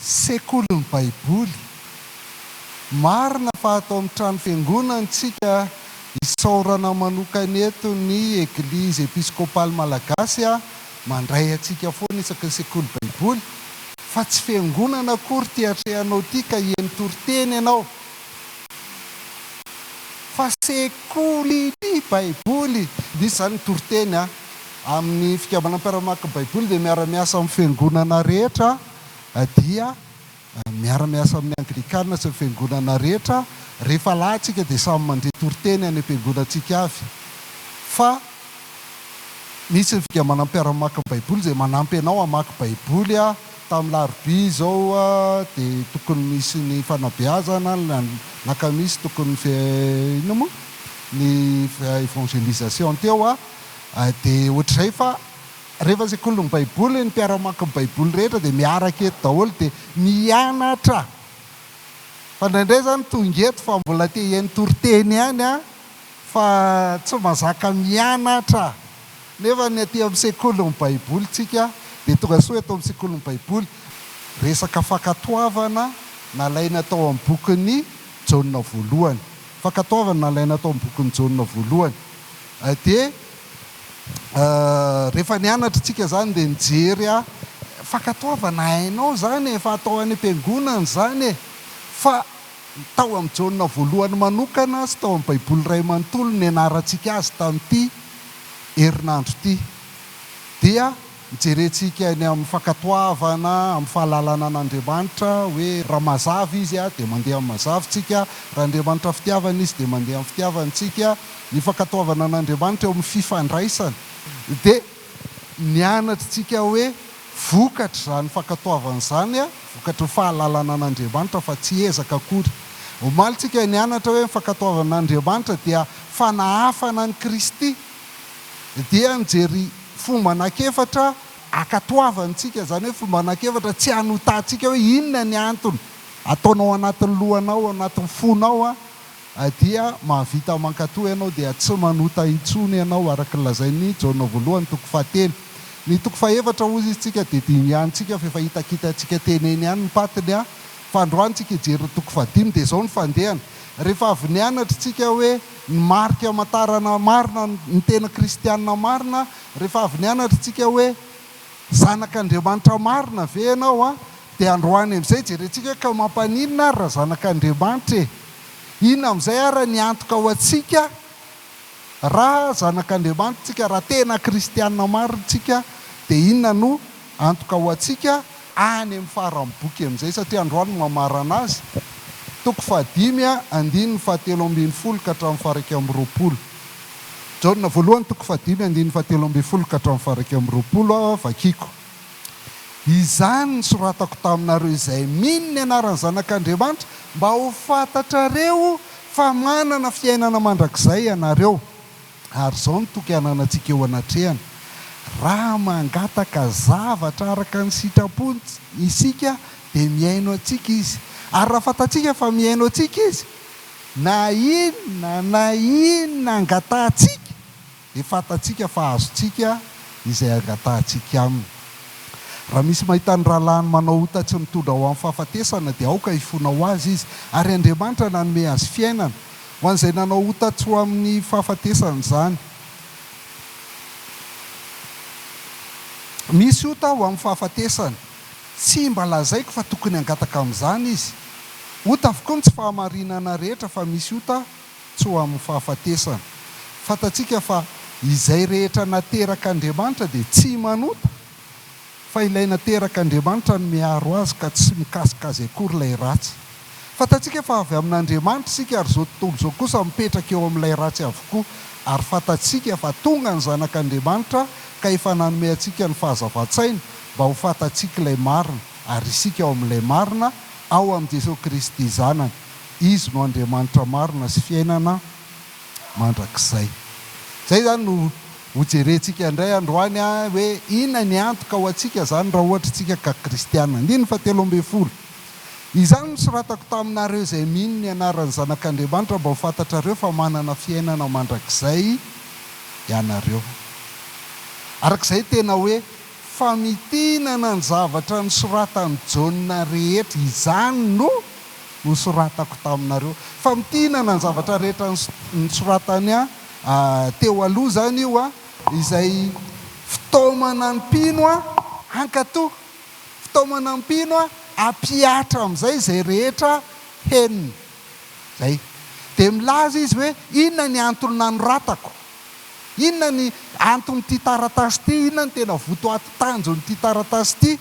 Sekolin'ny Baiboly. Marina fa ato amin'ny trano fiangonana tsika isaorana manokana eto ny Eglizy Episkopaly Malagasy mandray antsika foana isaky ny sekoly Baiboly fa tsy fiangonana akory ity atrehanao ity ka hieno toriteny ianao fa sekolin'ny Baiboly misy izany ny toriteny an! Amin'ny Fikabanan'ny Mpiara-maka Baiboly dia miara-miasa amin'ny fiangonana rehetra dia miara-miasa amin'ny Anglikana sy ny fiangonana rehetra. Rehefa lahy tsika dia samy mandre toriteny any am-piangonantsika avy. Fa misy ny Fikambanan'ny Mpiara-maka Baiboly izay manampy anao hamaky Baiboly. Tamin'ny larobia izao dia tokony misy ny fanabeazana, ny alakamisy tokony ny ny evangelisation teo. Dia ohatr'izay fa rehefa sekolin'ny baiboly ny mpiara-mamaky ny baiboly rehetra dia miaraka eto daholo dia mianatra fa indraindray zany tonga eto fa mbola te hihaino toriteny ihany an fa tsy mazaka mianatra nefa ny aty amin'ny sekolin'ny baiboly tsika dia tonga soa eto amin'ny sekolin'ny baiboly resaka fankatoavana nalaina tao amin'ny bokin'ny jaona voalohany fankatoavana nalaina tao amin'ny bokin'ny jaona voalohany Dia rehefa nianatra tsika izany dia nijery aho, fankatoavana hainao izany efa atao any am-piangonana izany e! Fa tao amin'i Jaona voalohany manokana sy tao amin'ny Baiboly iray manontolo nianarantsika azy tamin'ity herinandro ity dia Hijerentsika eny amin'ny fankatoavana amin'ny fahalalana an'Andriamanitra hoe raha mazava Izy dia mandeha amin'ny mazavintsika, raha Andriamanitra fitiavana Izy dia mandeha amin'ny fitiavantsika. Ny fankatoavana an'Andriamanitra eo amin'ny fifandraisana dia nianatr'tsika hoe vokatr'izany fankatoavana izany, vokatry ny fahalalana an'Andriamanitra fa tsy ezaka akory. Omaly tsika nianatra hoe ny fankatoavana an'Andriamanitra dia fanahafana an'i Kristy dia nijery fomba anankiefatra hankatoavantsika, izany hoe fomba anankiefatra tsy hanotantsika hoe inona ny antony, ataonao anatin'ny lohanao, anatin'ny fonao dia mahavita mankatoa ianao dia tsy manota intsony ianao araka ny lazain'i Jaona voalohany toko fahatelo. Ny toko fahefatra hozy izy tsika dia dinihantsika fa efa hitakitantsika teny eny ihany ny patiny an, fa androany tsika hijery ny toko fahadimy dia izao ny fandehany, rehefa avy nianatra tsika hoe, Ny marika hamantarana marina ny tena kristiana marina, rehefa avy nianatra isika hoe zanak'Andriamanitra marina ve ianao a? dia androany amin'izay jerentsika hoe ka mampaninona ary raha zanak'Andriamanitra e? Inona amin'izay ary ny antoka ho antsika raha zanak'Andriamanitra isika, raha tena kristiana marina isika dia inona no Antoka ho antsika any amin'ny faran'ny boky amin'izay satria androany no mamarana azy, toko fahadimy a, andininy fahatelo ambin'ny folo ka hatramin'ny faha-iraika amby roapolo. Jaona voalohany toko fahadimy andininy fahatelo ambin'ny folo ka hatramin'ny faha-iraika amby roapolo a, vakiko. Izany nisoratako taminareo izay mino ny anaran'ny Zanak'Andriamanitra mba ho fantatrareo fa manana fiainana mandrakizay ianareo. Ary izao no toky hananantsika eo anatrehany, Raha mangataka zavatra araka ny sitrapony isika, dia mihaino antsika Izy. Ary raha fantatsika fa mihaino antsika Izy, na inona na inona angatahantsika, dia fantatsika fa azontsika izay angatahantsika Aminy. Raha misy mahita ny rahalahiny manao ota tsy mitondra ho amin'ny fahafatesana, dia aoka hifona ho azy izy, ary Andriamanitra nanome azy fiainana. Ho an'izay nanao ota tsy ho amin'ny fahafatesana izany. Misy ota ho amin'ny fahafatesana. Tsy mba lazaiko fa tokony hangataka amin'izany izy. Ota avokoa ny tsy fahamarinana rehetra fa misy ota tsy ho amin'ny fahafatesana. Fantatsika fa izay rehetra nateraka Andriamanitra dia tsy manota. fa ilay nateraka Andriamanitra no miaro azy ka tsy mikasika azy akory ilay ratsy. Fantatsika fa avy amin'Andriamanitra isika ary izao tontolo izao kosa mipetraka eo amin'ilay ratsy avokoa ary fantatsika fa tonga ny Zanak'Andriamanitra ka efa nanome antsika ny fahazavan-tsaina mba ho fantatsika ilay marina ary isika ao amin'ilay marina ao amin'i Jesoa Kristy Zanany Izy no Andriamanitra marina sy fiainana mandrakizay. Izay izany no Hojerentsika indray androany hoe inona ny antoka ho antsika izany raha ohatra isika ka kristiana. Andininy fahatelo ambin'ny folo. Izany nosoratako taminareo izay mino ny anaran'ny Zanak'Andriamanitra mba ho fantatrareo fa manana fiainana mandrakizay ianareo. Araka izay tena hoe famintinana ny zavatra nosoratan'i Jaona rehetra. Izany no nosoratako taminareo. Famintinana ny zavatra rehetra nosoratany Teo aloha izany io izay fitaomana mpino hankato, fitaomana mpino hampihatra amin'izay izay rehetra henony. Izay. Dia milaza izy hoe, Inona ny antony nanoratako? Inona ny anton'ity taratasy ity? Inona ny tena votoaty tanjon'ity taratasy ity?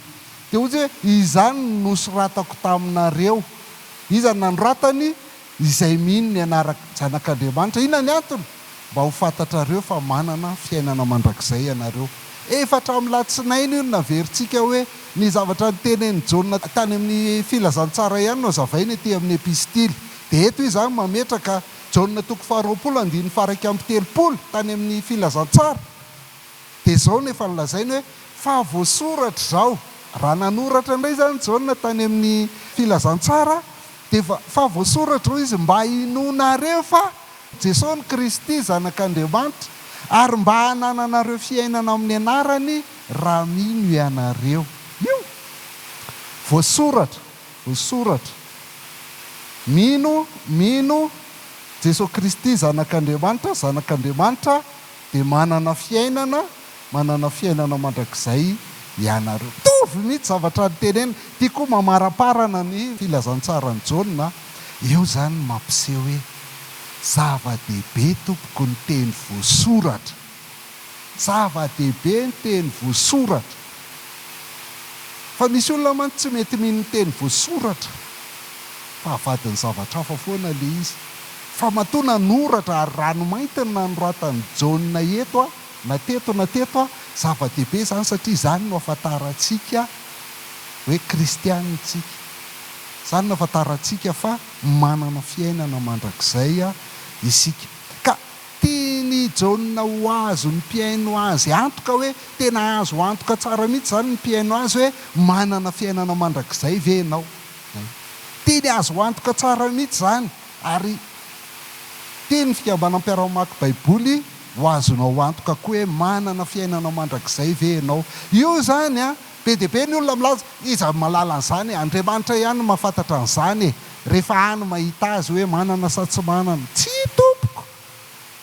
Dia hoy izy hoe, Izany no nosoratako taminareo. Iza no nanoratany? Izay mino ny anarak' Zanak' Andriamanitra. Inona ny antony? Mba ho fantatrareo fa manana fiainana mandrakizay ianareo. Efa hatramin'ny latsinainy io no naverintsika hoe ny zavatra notenenin'i Jaona tany amin'ny Filazantsara ihany no hazavaina ety amin'ny Epistily. Dia eto izy izany mametraka Jaona toko faharoapolo andininy faharaika amby telopolo tany amin'ny Filazantsara. Dia izao no efa nolazainy hoe fa voasoratra izao. Raha nanoratra indray izany Jaona tany amin'ny Filazantsara Dia efa efa voasoratra hoy izy, mba hinoanareo fa Jesoa no Kristy, Zanak'Andriamanitra, ary mba hanananareo fiainana amin'ny anarany, raha mino ianareo. Io. Voasoratra. Voasoratra. Mino, mino, Jesoa Kristy, Zanak'Andriamanitra, Zanak'Andriamanitra, Dia manana fiainana, manana fiainana mandrakizay ianareo. Mitovy mihitsy zavatra noteneniny. Ity koa mamaramparana ny filazantsaran'i Jaona. Eo izany ny mampiseho hoe zava-dehibe tompoko ny teny voasoratra. Zava-dehibe ny teny voasoratra. Fa misy olona mantsy tsy mety mino ny teny voasoratra fa avadin'ny zavatra hafa foana ilay izy. Fa matoa nanoratra ary ranomainty no nanoratan'i Jaona eto a, na teto na teto a, zava-dehibe izany satria izany no ahafantarantsika hoe kristiana isika. Izany no ahafantarantsika fa manana fiainana mandrakizay isika. Ka tian'i Jaona ho azon'ny mpihaino azy antoka hoe tena azo antoka tsara mihitsy izany ny mpihaino azy hoe manana fiainana mandrakizay ve ianao. Izay. Tiany azo antoka tsara mihitsy izany. Ary tia ny fikambanam-piaraha-mamaky Baiboly ho azonao antoka koa hoe manana fiainana mandrakizay ve ianao. Io izany an! Be dia be ny olona milaza, Iza no mahalala an'izany e? Andriamanitra ihany no mahafantatra an'izany e! Rehefa any mahita azy hoe manana sa tsy manana. Tsia tompoko!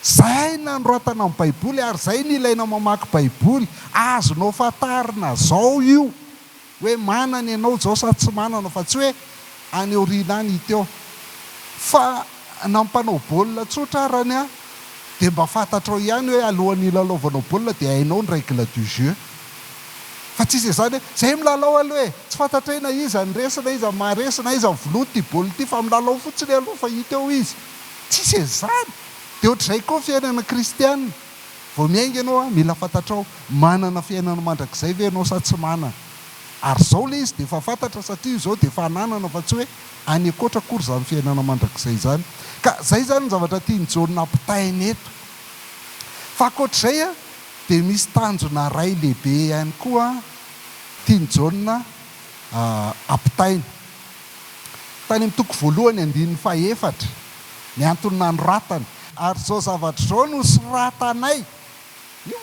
Izay no nanoratana ny Baiboly ary izay no ilaina mamaky Baiboly. Azonao fantarina izao io. Hoe manana ianao izao sa tsy manana fa tsy hoe any aoriana any hita eo. Fa na mpanao baolina tsotra arany an, dia mba fantatrao ihany hoe alohan'ny hilalaovanao baolina dia hainao ny règle du jeu. Fa tsy hisy izany hoe, izay milalao aloha e! Tsy fantatray na iza ny resy na iza ny maha resy na iza ny vonoiny ity baolina ity fa milalao fotsiny aloha fa hita eo izy. Tsy hisy an'izany! Dia ohatr'izay koa ny fiainana kristiana. Vao miainga ianao a, mila fantatrao, manana fiainana mandrakizay ve ianao sa tsy manana? Ary izao ilay izy dia efa fantatra satria izao dia efa ananana fa tsy hoe any ankoatra akory izany fiainana mandrakizay izany. Ka izay izany ny zavatra tian'i Jaona ampitaina eto. Fa ankoatr'izay a, dia misy tanjona iray lehibe ihany koa tian'i Jaona ampitaina. Tany amin'ny toko voalohany andininy fahefatra ny antony nanoratany. Ary izao zavatra izao no soratanay, io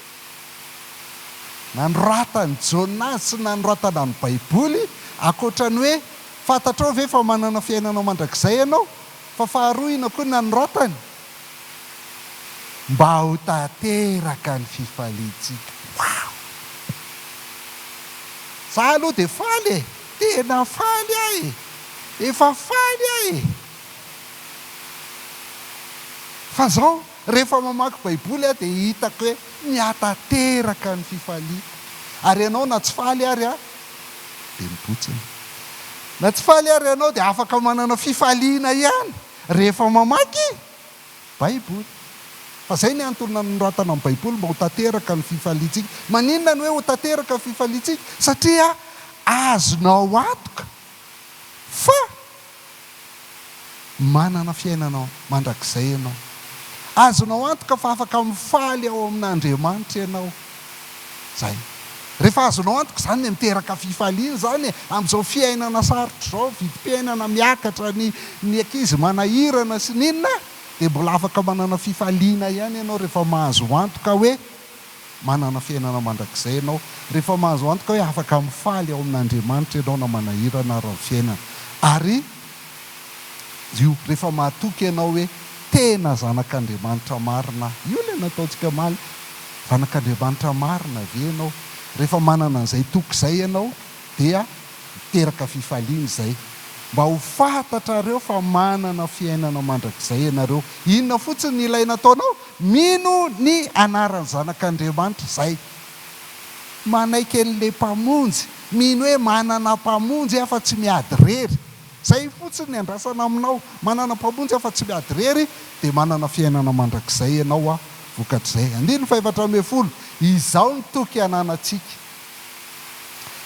nanoratan'i Jaona azy sy ny nanoratana ny Baiboly, ankoatra ny hoe fantatrao ve fa manana fiainana mandrakizay ianao, fa faharoina koa ny nanoratany, mba ho tanteraka ny fifaliantsika. Wow! Za aloha dia faly e! Tena faly aho e! Efa faly aho e! Fa zao rehefa mamaky baiboly aho dia hitako hoe mihatanteraka ny fifaliako. Ary ianao na tsy faly ary aho dia mibontsina. Na tsy faly ary ianao dia afaka manana fifaliana ihany rehefa mamaky Baiboly. Fa izay ny antony nanoratana ny Baiboly, mba ho tanteraka ny fifaliantsika. Maninona no hoe ho tanteraka ny fifaliantsika? Satria azonao antoka fa manana fiainana mandrakizay ianao. Azonao antoka fa afaka mifaly ao amin'Andriamanitra ianao. Zay. Rehefa azonao antoka izany dia miteraka fifaliana izany e! Amin'izao fiainana sarotra izao, vidim-piainana miakatra, ny ny ankizy manahirana sy ny inona dia mbola afaka manana fifaliana ihany ianao rehefa mahazo antoka hoe manana fiainana mandrakizay ianao, rehefa mahazo antoka hoe afaka mifaly ao amin'Andriamanitra ianao na manahirana ary ny fiainana. Ary. Io rehefa mahatoky ianao hoe tena zanak'Andriamanitra marina aho. Io ilay nataontsika omaly. Zanak'Andriamanitra marina ve ianao? Rehefa manana an'izay toky izay ianao dia miteraka fifaliana izay. Mba ho fantatrareo fa manana fiainana mandrakizay ianareo. Inona fotsiny no ilaina ataonao? Mino ny anaran'ny Zanak'Andriamanitra. Izay. Manaiky an'ilay Mpamonjy, mino hoe manana Mpamonjy aho fa tsy miady irery. Izay fotsiny ny andrasana aminao. Manana Mpamonjy aho fa tsy miady irery, dia manana fiainana mandrakizay ianao an, vokatr'izay. Andininy fahefatra ambin'ny folo, Izao ny toky ananantsika.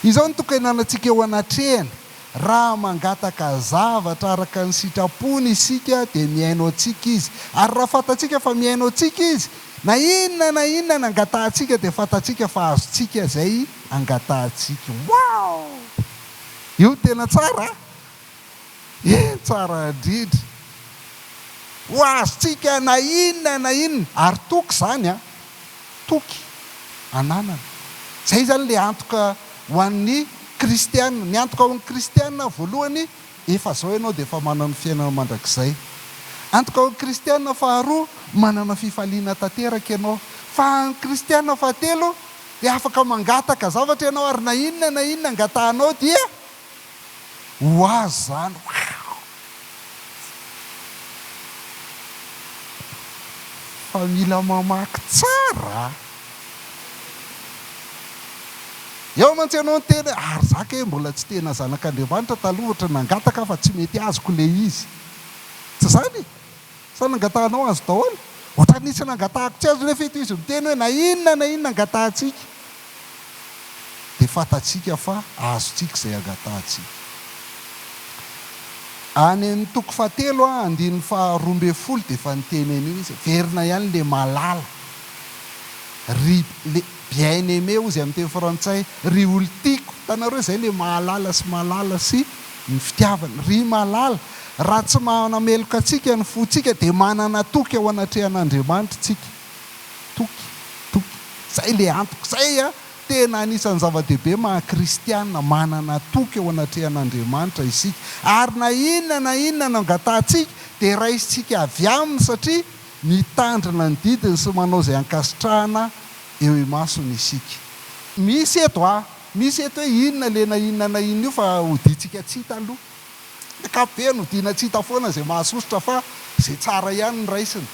Izao ny toky ananantsika eo anatrehany, Raha mangataka zavatra araka ny sitrapony isika, dia mihaino antsika Izy. Ary raha fantatsika fa mihaino antsika Izy, Na inona na inona nangatahantsika dia fantatsika fa azontsika izay angatahantsika. Wow! Io no tena tsara a! Eny tsara indrindra. Ho azontsika na inona na inona. Ary toky izany a! Toky ananana. Izay izany ilay antoka ho an'ny kristiana. Ny antoka ho an'ny kristiana voalohany Efa izao ianao dia efa manana ny fiainana mandrakizay. Antoka ho kristiana faharoa, manana fifaliana tanteraka ianao. Fa ny kristiana fahatelo dia afaka mangataka zavatra ianao ary na inona na inona angatahanao dia ho azo izany. Waouh! Fa mila mamaky tsara a! Eo mantsy ianao niteny hoe ary za kay mbola tsy tena zanak'Andriamanitra taloha ohatra nangataka aho fa tsy mety azoko ilay izy. Tsy izany e! Sa nangatahanao azo daholo? Ohatra nisy nangatahako tsy azo nefa ito izy miteny hoe na inona na inona angatahantsika dia fantatsika fa azontsika izay angatahantsika. Any amin'ny toko fahatelo andininy faharoa ambin'ny folo dia efa niteny an'io izy hoe, Verina ihany ilay malala. Ry le bien aimé hozy amin'ny teny frantsay, ry olon-tiako, hitanareo izay ilay mahalala sy malala sy ny fitiavana, ry malala, raha tsy manameloka antsika ny fontsika dia manana toky ao anatrehan'Andriamanitra isika, toky, toky, izay ilay antoko, izay an, tena anisan'ny zava-dehibe maha kristiana, manana toky ao anatrehan'Andriamanitra isika, ary na inona na inona no angatahantsika dia raisintsika avy aminy satria Mitandrina ny didiny sy manao izay ankasitrahana eo imasony isika. Misy eto a! Misy eto hoe inona le na inona na inona io fa hodiantsika tsy hita aloha. Ny ankapobeny hodiana tsy hita foana izay mahasosotra fa izay tsara ihany no raisina.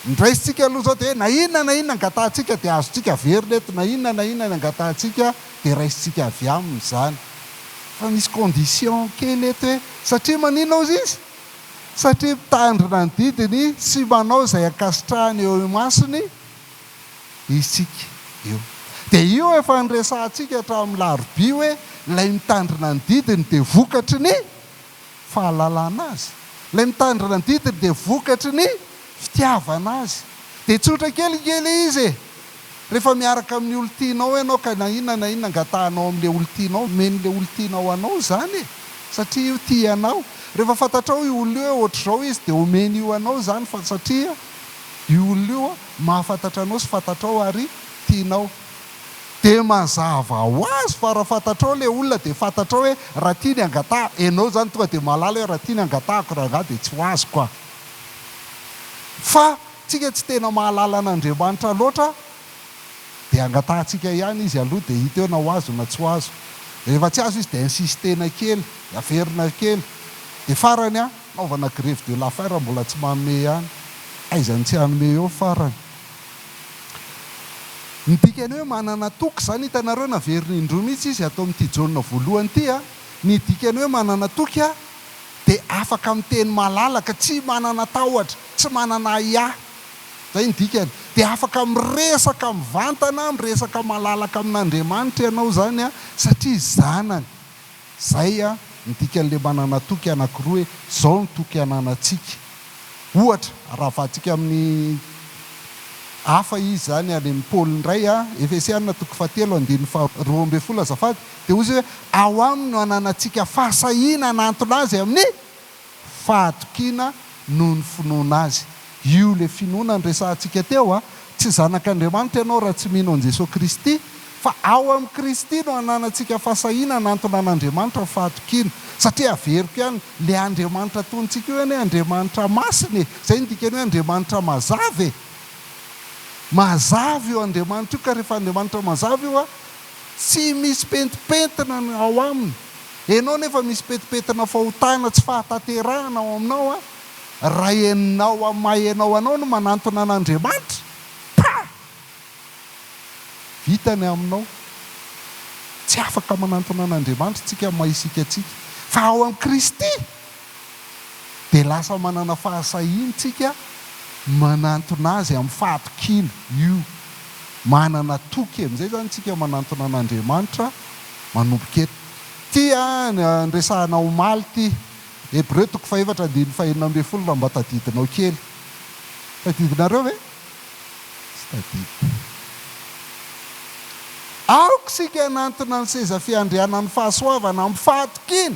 Ny raisintsika aloha izao dia hoe na inona na inona angatahantsika dia azontsika averina eto, na inona na inona ny angatahantsika dia raisintsika avy aminy izany. Fa misy condition kely eto hoe satria maninona ozy izy? satria mitandrina ny didiny sy manao izay ankasitrahany eo imasony isika io. Dia io efa niresahantsika hatramin'ny larobia hoe ilay mitandrina ny didiny dia vokatry ny fahalalana Azy. Ilay mitandrina ny didiny dia vokatry ny fitiavana Azy. Dia tsotra kely nge ilay izy e! Rehefa miaraka amin'ny olon-tianao ianao ka na inona na inona angatahanao amin'ilay olon-tianao, omen'ilay olon-tianao anao izany e! satria io tia anao. Rehefa fantatrao io olona io hoe ohatr'izao izy dia omeny io anao izany fa satria io olona io mahafantatra anao sy fantatrao ary tianao. Dia mazava ho azy fa raha fantatrao ilay olona dia fantatrao hoe raha tia ny angataha, ianao izany tonga dia mahalala hoe raha tia ny angatahako rangaha dia tsy ho azoko aho. Fa. Tsika tsy tena mahalala an'Andriamanitra loatra dia angatahantsika ihany izy aloha dia hita eo na ho azo na tsy ho azo. Rehefa tsy azo izy dia insistena kely, averina kely. Dia farany an, anaovana grève de la faim raha mbola tsy manome ihany. Aiza no tsy hanome eo farany. Ny dikany hoe manana toky izany hitanareo naverina indroa mihitsy izy ato amin'ity Jaona voalohany ity an. Ny dikany hoe manana toky dia afaka miteny malalaka, tsy manana tahotra. tsy manana ahiahy, izay ny dikany, dia afaka miresaka mivantana, miresaka malalaka amin'Andriamanitra ianao izany an, satria zanany. Izay ny dikan'ilay manana toky anankiroa hoe, izao ny toky ananantsika. Ohatra, arahavantsika amin'ny hafa izy izany, any amin'i Paoly indray, Efesiana toko fahatelo andininy faharoa ambin'ny folo azafady, dia hoy izy hoe, Ao aminy no ananantsika fahasahiana hanantona azy amin'ny fahatokiana noho ny finoana Azy. Io ilay finoana niresahantsika teo a! Tsy zanak'Andriamanitra ianao raha tsy mino an'i Jesoa Kristy, fa ao amin'i Kristy no ananantsika fahasahiana hanantona an'Andriamanitra ny fahatokiana. Satria averiko ihany, ilay Andriamanitra atonintsika io anie Andriamanitra masina e! Izay no dikan'ny hoe Andriamanitra mazava e! Mazava io Andriamanitra io, ka rehefa Andriamanitra mazava io a, Tsy misy pentimpentina ny ao aminy. Enao nefa misy pentimpentina fahotana tsy fahatanterahana ao aminao an! Raha enao amin'ny maha enao anao no manantona an'Andriamanitra, pah! Vita ny aminao. Tsy afaka manantona an'Andriamanitra tsika amin'ny maha isika antsika. Fa ao amin'i Kristy! dia lasa manana fahasahiantsika manantona Azy amin'ny fahatokiana io. Manana toky amin'izay izany isika manantona an'Andriamanitra manomboka eto. Ity andresahana omaly ity, Hebreo toko fahefatra andininy fahenina ambin'ny folo raha mba tadidinao kely. Tadidinareo ve? Tsy tadidiko. Aoka isika hanantona ny seza fiandrianan'ny fahasoavana amin'ny fahatokiana.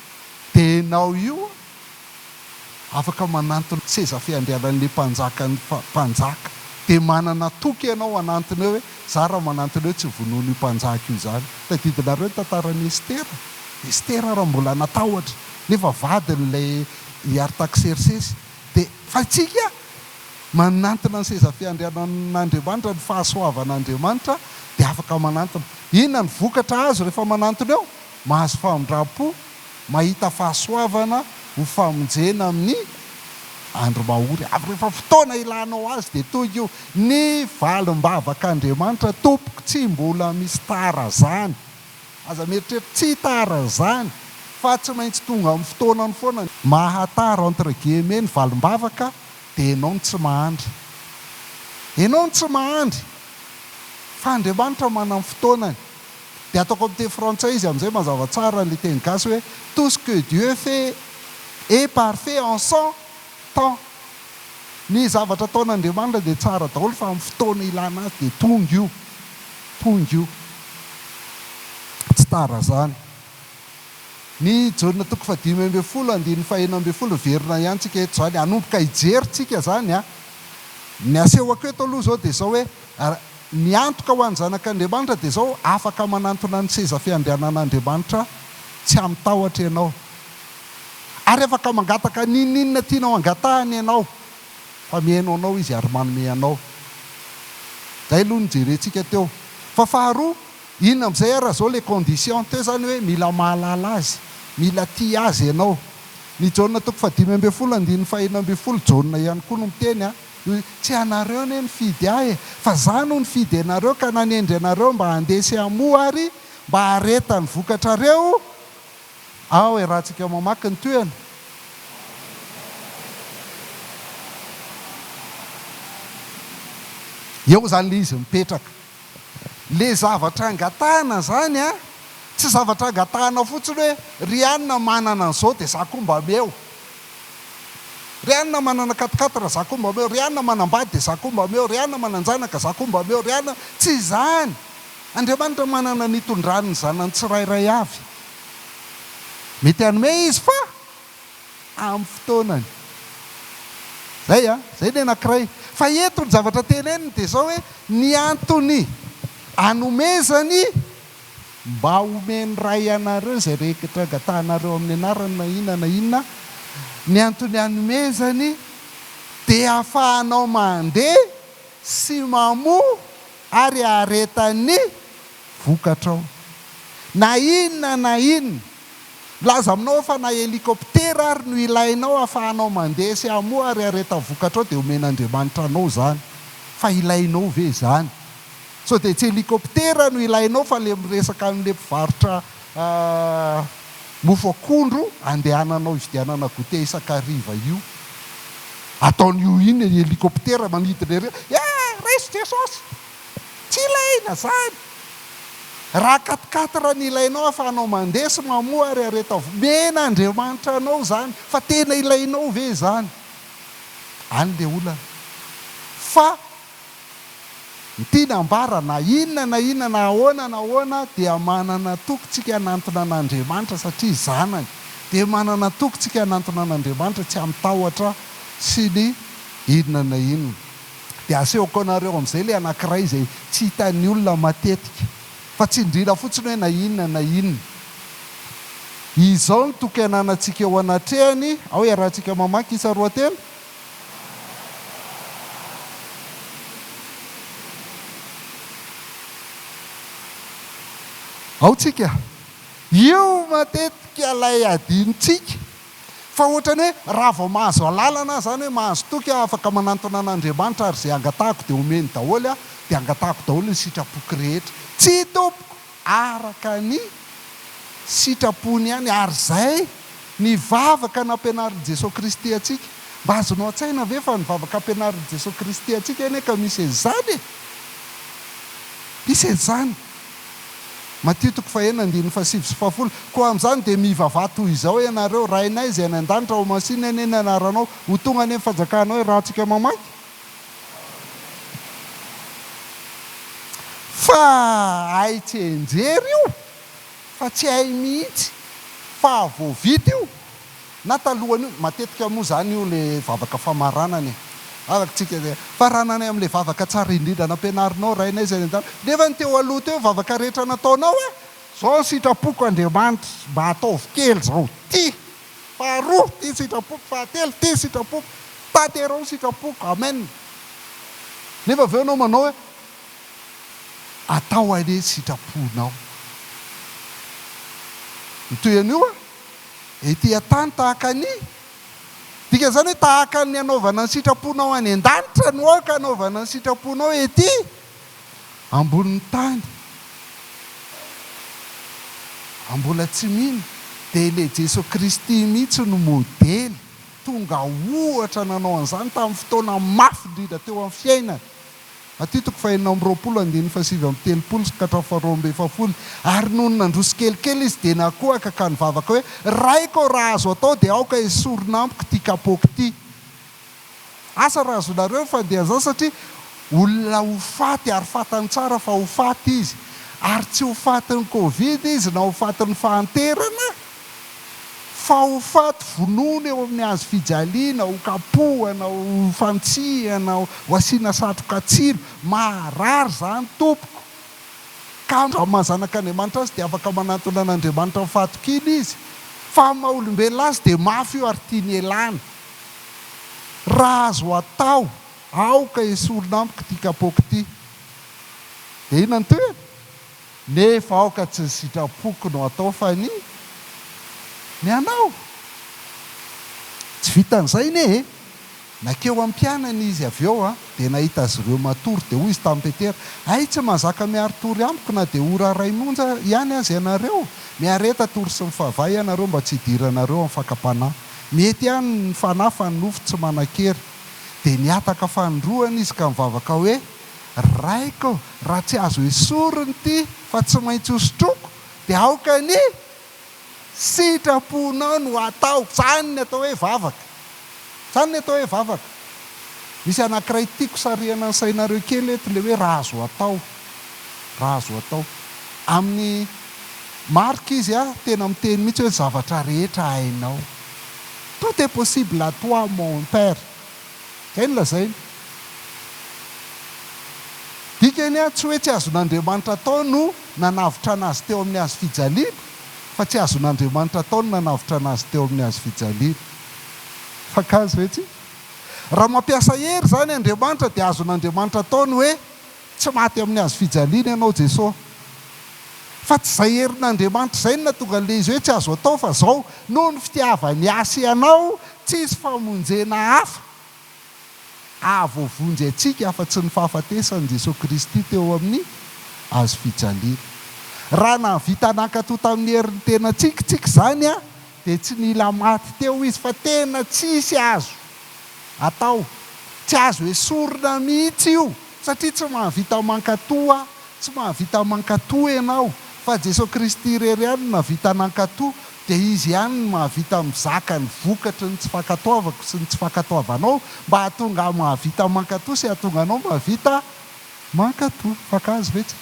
Dia enao io afaka manantona seza fiandriananle mpanjakan'ny mpanjaka. Dia manana toky enao hanantona eo hoe za raha manantona eo tsy vonoin'io mpanjaka io izany. Tadidinareo ny tantaran'i Estera? Estera raha mbola natahotra nefa vadin'ilay i Artaksersesy. Dia fa isika manantona ny seza fiandrianan'Andriamanitra, ny fahasoavan'Andriamanitra dia afaka manantona. Inona no vokatra azo rehefa manantona eo? Mahazo famindram-po mahita fahasoavana ho famonjena amin'ny andro mahory avy. Rehefa fotoana ilanao azy dia tohigy io. Ny valim-bavak'Andriamanitra, Tompoko, tsy mbola misy tara zany. Aza mieritreritra, tsy tara zany, fa tsy maintsy tonga amin'ny fotoanany foana. Mahatara entre guillemets ny valim-bavaka dia enao no tsy mahandry. Enao no tsy mahandry, fa Andriamanitra manam-fotoanany. Dia atao comme teny frantsay izy amin'izay mazava tsara an'ilay teny gasy hoe tout ce que Dieu fait est parfait en son temps. Ny zavatra ataon'Andriamanitra dia tsara daholo fa amin'ny fotoana ilana azy dia tonga io. Tonga io. Tsy tara izany. Ny Jaona toko fahadimy ambin'ny folo andininy fahenina ambin'ny folo hiverina ihany tsika eto izany, hanomboka hijery tsika izany an. Ny asehoko eto aloha izao dia izao hoe, Ny antoka ho an'ny zanak'Andriamanitra dia izao, afaka manantona ny seza fiandrianan'Andriamanitra tsy amin-tahotra ianao. Ary afaka mangataka n'inon'inona tianao hangatahany ianao, fa mihaino anao Izy ary manome anao. Izay aloha no nojerentsika teo. Fa faharoa, inona amin'izay ary izao ilay condition teo izany hoe mila mahalala Azy, mila tia Azy ianao. Ny Jaona toko fahadimy ambin'ny folo andininy fahenina ambin'ny folo, Jaona ihany koa no miteny an. Hoe tsy ianareo anie nifidy ahy e, fa za no nifidy anareo ka nanendry anareo mba handeha sy hamoha ary mba hareta ny vokatrareo aho e, raha tsika mamaky ny tohiny. Eo zany le izy mipetraka. Le zavatra angatahana zany a, tsy zavatra angatahana fotsiny hoe ry anona manana an'zao de za koa mba ameo. Ry anona manana katikaty ra za ko mba omeo, ry anona manambady de za ko mba omeo, ry anona mananjanaka za ko mba omeo, ry anona tsy izany! Andriamanitra manana ny itondrany ny zanany tsirairay avy. Mety hanome Izy fa amin'ny fotoanany. Zay a! Zay ny anakiray. Fa eto ny zavatra teneniny de zao hoe ny antony anomezany. Mba omen'ny Ray anareo izay rehetra angatahanareo amin'ny anarany na inona na inona. Ny antony anomezany dia hafahanao mandeha sy mamoa ary hahareta ny vokatrao. Na inona na inona. Milaza aminao aho fa na helikoptera ary no ilainao hafahanao mandeha sy hamoa ary hahareta vokatrao dia omen'Andriamanitra anao izany. Fa ilainao ve izany? Sao dia tsy helicoptera no ilainao fa le miresaka anle mpivarotra mofo akondro andehananao hividianana goûter isan-kariva io. Ataony ho inn ny helicoptera manidina ery hoe eh raiso Jesosy! Tsy ilaina zany! Raha quat-quatre no ilainao afahanao mandeha sy mamoha ary areto avokoa. Mihena Andriamanitra anao zany fa tena ilainao ve izany? Any le olana fa. Ny tiany ambara, na inona na inona na ahoana na ahoana dia manana antoko tsika hanantona an' Andriamanitra satria zanany, dia manana antoko tsika hanantona an' Andriamanitra tsy hamin-tahotra sy ny inona na inona. Dia asehoko anareo amin'izay ilay anankiray izay tsy hitan'ny olona matetika, fa tsindriana fotsiny hoe na inona na inona. Izao no toky hananantsika eo anatrehany, ao iarahantsika mamaky isa roa telo. Ao tsika. Io matetika ilay adinontsika, fa ohatrany hoe raha vao mahazo alalana aho izany hoe mahazo toky aho afaka manantona an'Andriamanitra ary izay angatahako dia omeny daholo aho, dia angatahako daholo ny sitrapoko rehetra. Tsia tompoko! araka ny sitrapony ihany, ary izay ny vavaka nampianarin'i Jesoa Kristy antsika. Mba azonao an-tsaina ve fa ny vavaka ampianarin'i Jesoa Kristy antsika anie ka misy an'izany e! Misy an'izany. Matio toko fahenina andininy fahasivy sy fahafolo, Koa amin'izany dia mivavaha toy izao ianareo, Rainay izay any an-danitra, homasinina anie ny anaranao, ho tonga anie ny fanjakanao, iarahantsika mamaky. Fa hay tsianjery io fa tsy hay mihitsy fa vao vita io na talohan'io, matetika moa zany io le vavaka famaranana e, vavaka tsika zay, faranana am le vavaka tsara indrindra nampianarinao Rainay zay any an-danitra, nefa ny teo aloha teo vavaka rehetra nataonao a! Zao ny sitrapoko Andriamanitra mba ataovy kely zao ty! Faharoa, tia sitrapoko. Fahatelo, tia sitrapoko. Tanterao sitrapoko. Amen. Nefa avy eo ianao manao hoe, Atao anie sitraponao. Ny toy an'io an, ety an-tany tahaka ny. Dikan'izany hoe tahaka ny anaovana ny sitraponao any an-danitra no aoka anaovana ny sitraponao ety. Ambonin'ny tany a mbola tsy mino de ilay Jeso Kristy mihitsy no modely tonga ohatra nanao an'izany tamin'ny fotoana mafy indrindra teo amin'ny fiainany. Matio toko fahenina amby roapolo andininy fahasivy amby telopolo sy ka hatramin'ny faharoa amby efapolo Ary nony nandroso kelikely izy dia nakohaka ka nivavaka hoe, Raiko ô raha azo atao dia aoka esorina amiko ity kapôko ity. Asa raha azonareo ny fandehazany satria olona ho faty ary fantany tsara fa ho faty izy ary tsy ho fatin'ny covid izy na ho fatin'ny fahanterana fa ho faty vonoina eo amin'ny hazo fijaliana, ho kapohana, ho fantsihana, ho asiana satroka tsilo. Maharary izany tompoko. Ka raha maha zanak'Andriamanitra azy dia afaka manantona an'Andriamanitra ny fahatokiana izy fa maha olombelona azy dia mafy io ary tiany ialana. Raha azo atao, aoka esorina amiko ity kapoaka ity. Dia inona no tohiny? Nefa aoka tsy ny sitrapoko no atao fa ny ny anao. Tsy vitan'izay anie e! Nankeo am-pianany izy avy eo dia nahita azy ireo matory, dia hoy izy tamin'i Petera, Hay tsy mahazaka miary tory amiko na dia ora iray monja ihany aza ianareo? Miareta tory sy mifavaha ianareo mba tsy hidiranareo amin'ny fakam-panahy. Mety ihany ny Fanahy fa ny nofo tsy manan-kery. Dia nihataka fanindroany izy ka nivavaka hoe, Raiko ô, raha tsy azo esorina ity fa tsy maintsy hosotroiko, dia aoka ny sitraponao no hataoko. Izany ny atao hoe vavaka. Izany ny atao hoe vavaka. Misy anankiray tiako sarihana ny sainareo kely eto, ilay hoe raha azo atao. raha azo atao. Amin'ny marque izy a, tena miteny mihitsy hoe zavatra rehetra hainao. Tout est possible à toi mon père. Izay no lazainy. Dikany a, tsy hoe tsy azon'Andriamanitra atao no nanavotrana azy teo amin'ny hazo fijaliana, fa tsy azon'Andriamanitra atao no nanavotrana azy teo amin'ny hazo fijaliana. Mifankahazo ve tsika? Raha mampiasa hery izany Andriamanitra dia azon'Andriamanitra atao ny hoe Tsy maty amin'ny hazo fijaliana ianao Jesosy fa tsy izay herin'Andriamanitra izay no nahatonga le izy hoe tsy azo atao fa zao noho ny fitiavany hasy anao tsisy famonjena hafa ahavoavonjy antsika afa tsy ny fahafatesan'i Jesosy Kristy teo amin'ny hazo fijaliana raha nahavita nankato tamin'ny herin'ny tenantsika tsika izany Dia tsy nila maty teo izy fa tena tsisy azo atao, tsy azo esorina mihitsy io satria tsy mahavita mankato aho, tsy mahavita mankato ianao fa Jesoa Kristy irery ihany no nahavita nankato, dia Izy ihany no mahavita mizaka ny vokatry ny tsy fankatoavako sy ny tsy fankatoavanao mba hahatonga ahy mahavita mankato sy hahatonga anao mahavita mankato. Fankahazo ve tsika?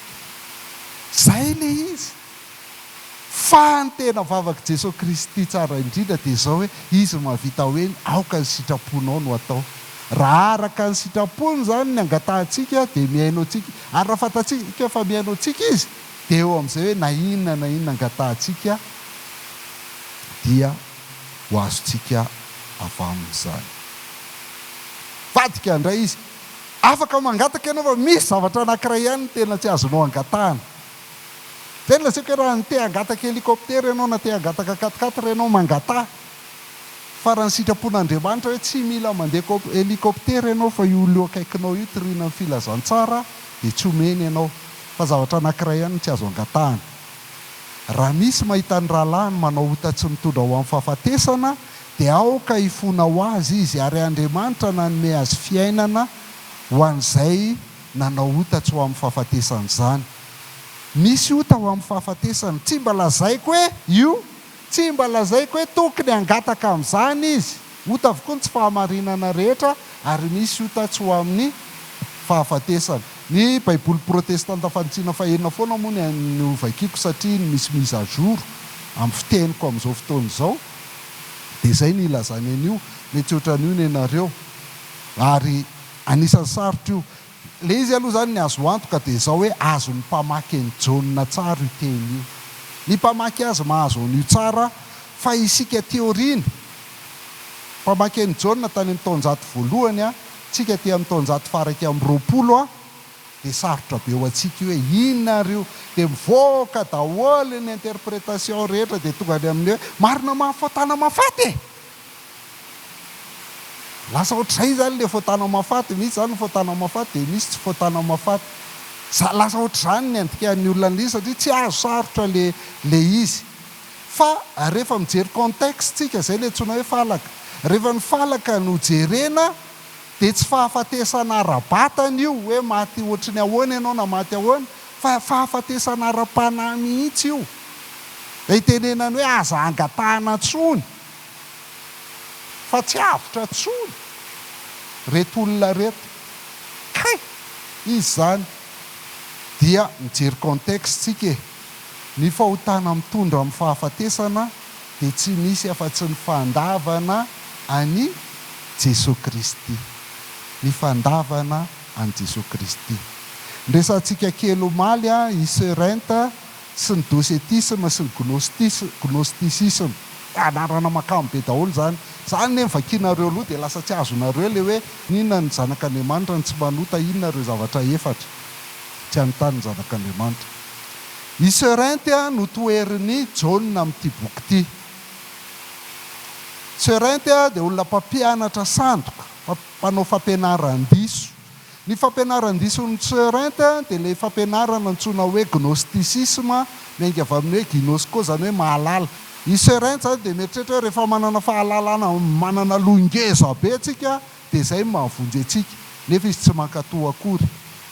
Izay ilay izy. Fa ny tena vavak'i Jesoa Kristy tsara indrindra dia izao hoe, Izy mahavita hoe ny aoka ny sitraponao no atao. Raha araka ny sitrapony izany ny angatahantsika dia mihaino antsika, ary raha fantatsika fa mihaino antsika Izy dia eo amin'izay hoe na inona na inona angatahantsika dia ho azontsika avy Aminy izany. Mivadika indray Izy, Afaka mangataka ianao fa misy zavatra anankiray ihany no tena tsy azonao angatahana, Zay no lazaiko hoe raha te hangataka hélicoptère ianao na te hangataka quatre quatre ianao mangataha fa raha ny sitrapon'Andriamanitra hoe tsy mila mandeha hélicoptère ianao fa io olona eo akaikinao io toriana ny filazantsara dia tsy omeny ianao fa zavatra anankiray ihany no tsy azo angatahana raha misy mahita ny rahalahiny manao ota tsy mitondra ho amin'ny fahafatesana dia aoka hifona ho azy izy ary Andriamanitra nanome azy fiainana ho an'izay nanao ota tsy ho amin'ny fahafatesany izany. Misy ota ho amin'ny fahafatesany. Tsy mba lazaiko hoe io, tsy mba lazaiko hoe tokony hangataka amin'izany izy. Ota avokoa ny tsy fahamarinana rehetra ary misy ota tsy ho amin'ny fahafatesany. Ny Baiboly protestanta fanitsiana fahenina foana moa ny no vakiako satria ny misy mise à jour amin'ny fiteniko amin'izao fotoana izao. Dia izay no ilazany an'io. Mety ohatran'io ny anareo. Ary. Anisan'ny sarotra io. Ilay izy aloha izany ny azo antoka dia izao hoe azon'ny mpamaky an'i Jaona tsara io teny io. Ny mpamaky azy mahazo an'io tsara fa isika aty aoriana, mpamaky an'i Jaona tany amin'ny taonjato voalohany an, tsika aty amin'ny taonjato faraika amby roapolo an, dia sarotra be ho antsika io hoe inona ary io. Dia mivoaka daholo ny interpretation rehetra dia tonga any amin'ny hoe marina mahafantana mahafaty e! Lasa ohatr'izay izany ilay fontana Mafaty, misy izany ny fontana Mafaty dia misy tsy fontana Mafaty. Za lasa ohatr'izany ny andikan'ny olona an'ilay izy satria tsy azo sarotra ilay ilay izy. Fa rehefa mijery contexte tsika izay ilay antsoina hoe falaka. Rehefa ny falaka no jerena dia tsy fahafatesana ara-batana io hoe maty ohatry ny ahoana ianao na maty ahoana fa fahafatesana ara-panahy mihitsy io. Ilay itenenany hoe aza angatahana intsony Fa tsy avotra tsony reto olona reto kay izy zany dia mijery contexte tsika e! Ny fahotana mitondra amin'ny fahafatesana dia tsy misy afa tsy ny fandavana an'i Jesoa Kristy. Ny fandavana an'i Jesoa Kristy. Ndresantsika kely omaly an i Soeur Enta sy ny docetisme sy ny gnostisme, gnosticisme, anarana mahakamo be daholo izany, izany anie ny vakianareo aloha dia lasa tsy azonareo ilay hoe inona ny zanak'Andriamanitra ny tsy manota inona ireo zavatra efatra tsy anotan'ny zanak'Andriamanitra i Serent a no toherin'i Jaona amin'ity boky ity Serent a dia olona mpampianatra sandoka mpanao fampianaran-diso Ny fampianaran-diso ny Tseurinth dia ilay fampianarana antsoina hoe gnostisisma, miainga avy amin'ny hoe ginosko izany hoe mahalala. I Tseurinth izany dia mieritreritra hoe rehefa manana fahalalana manana loha ngeza be isika dia izay no mahavonjy antsika. Nefa izy tsy mankato akory.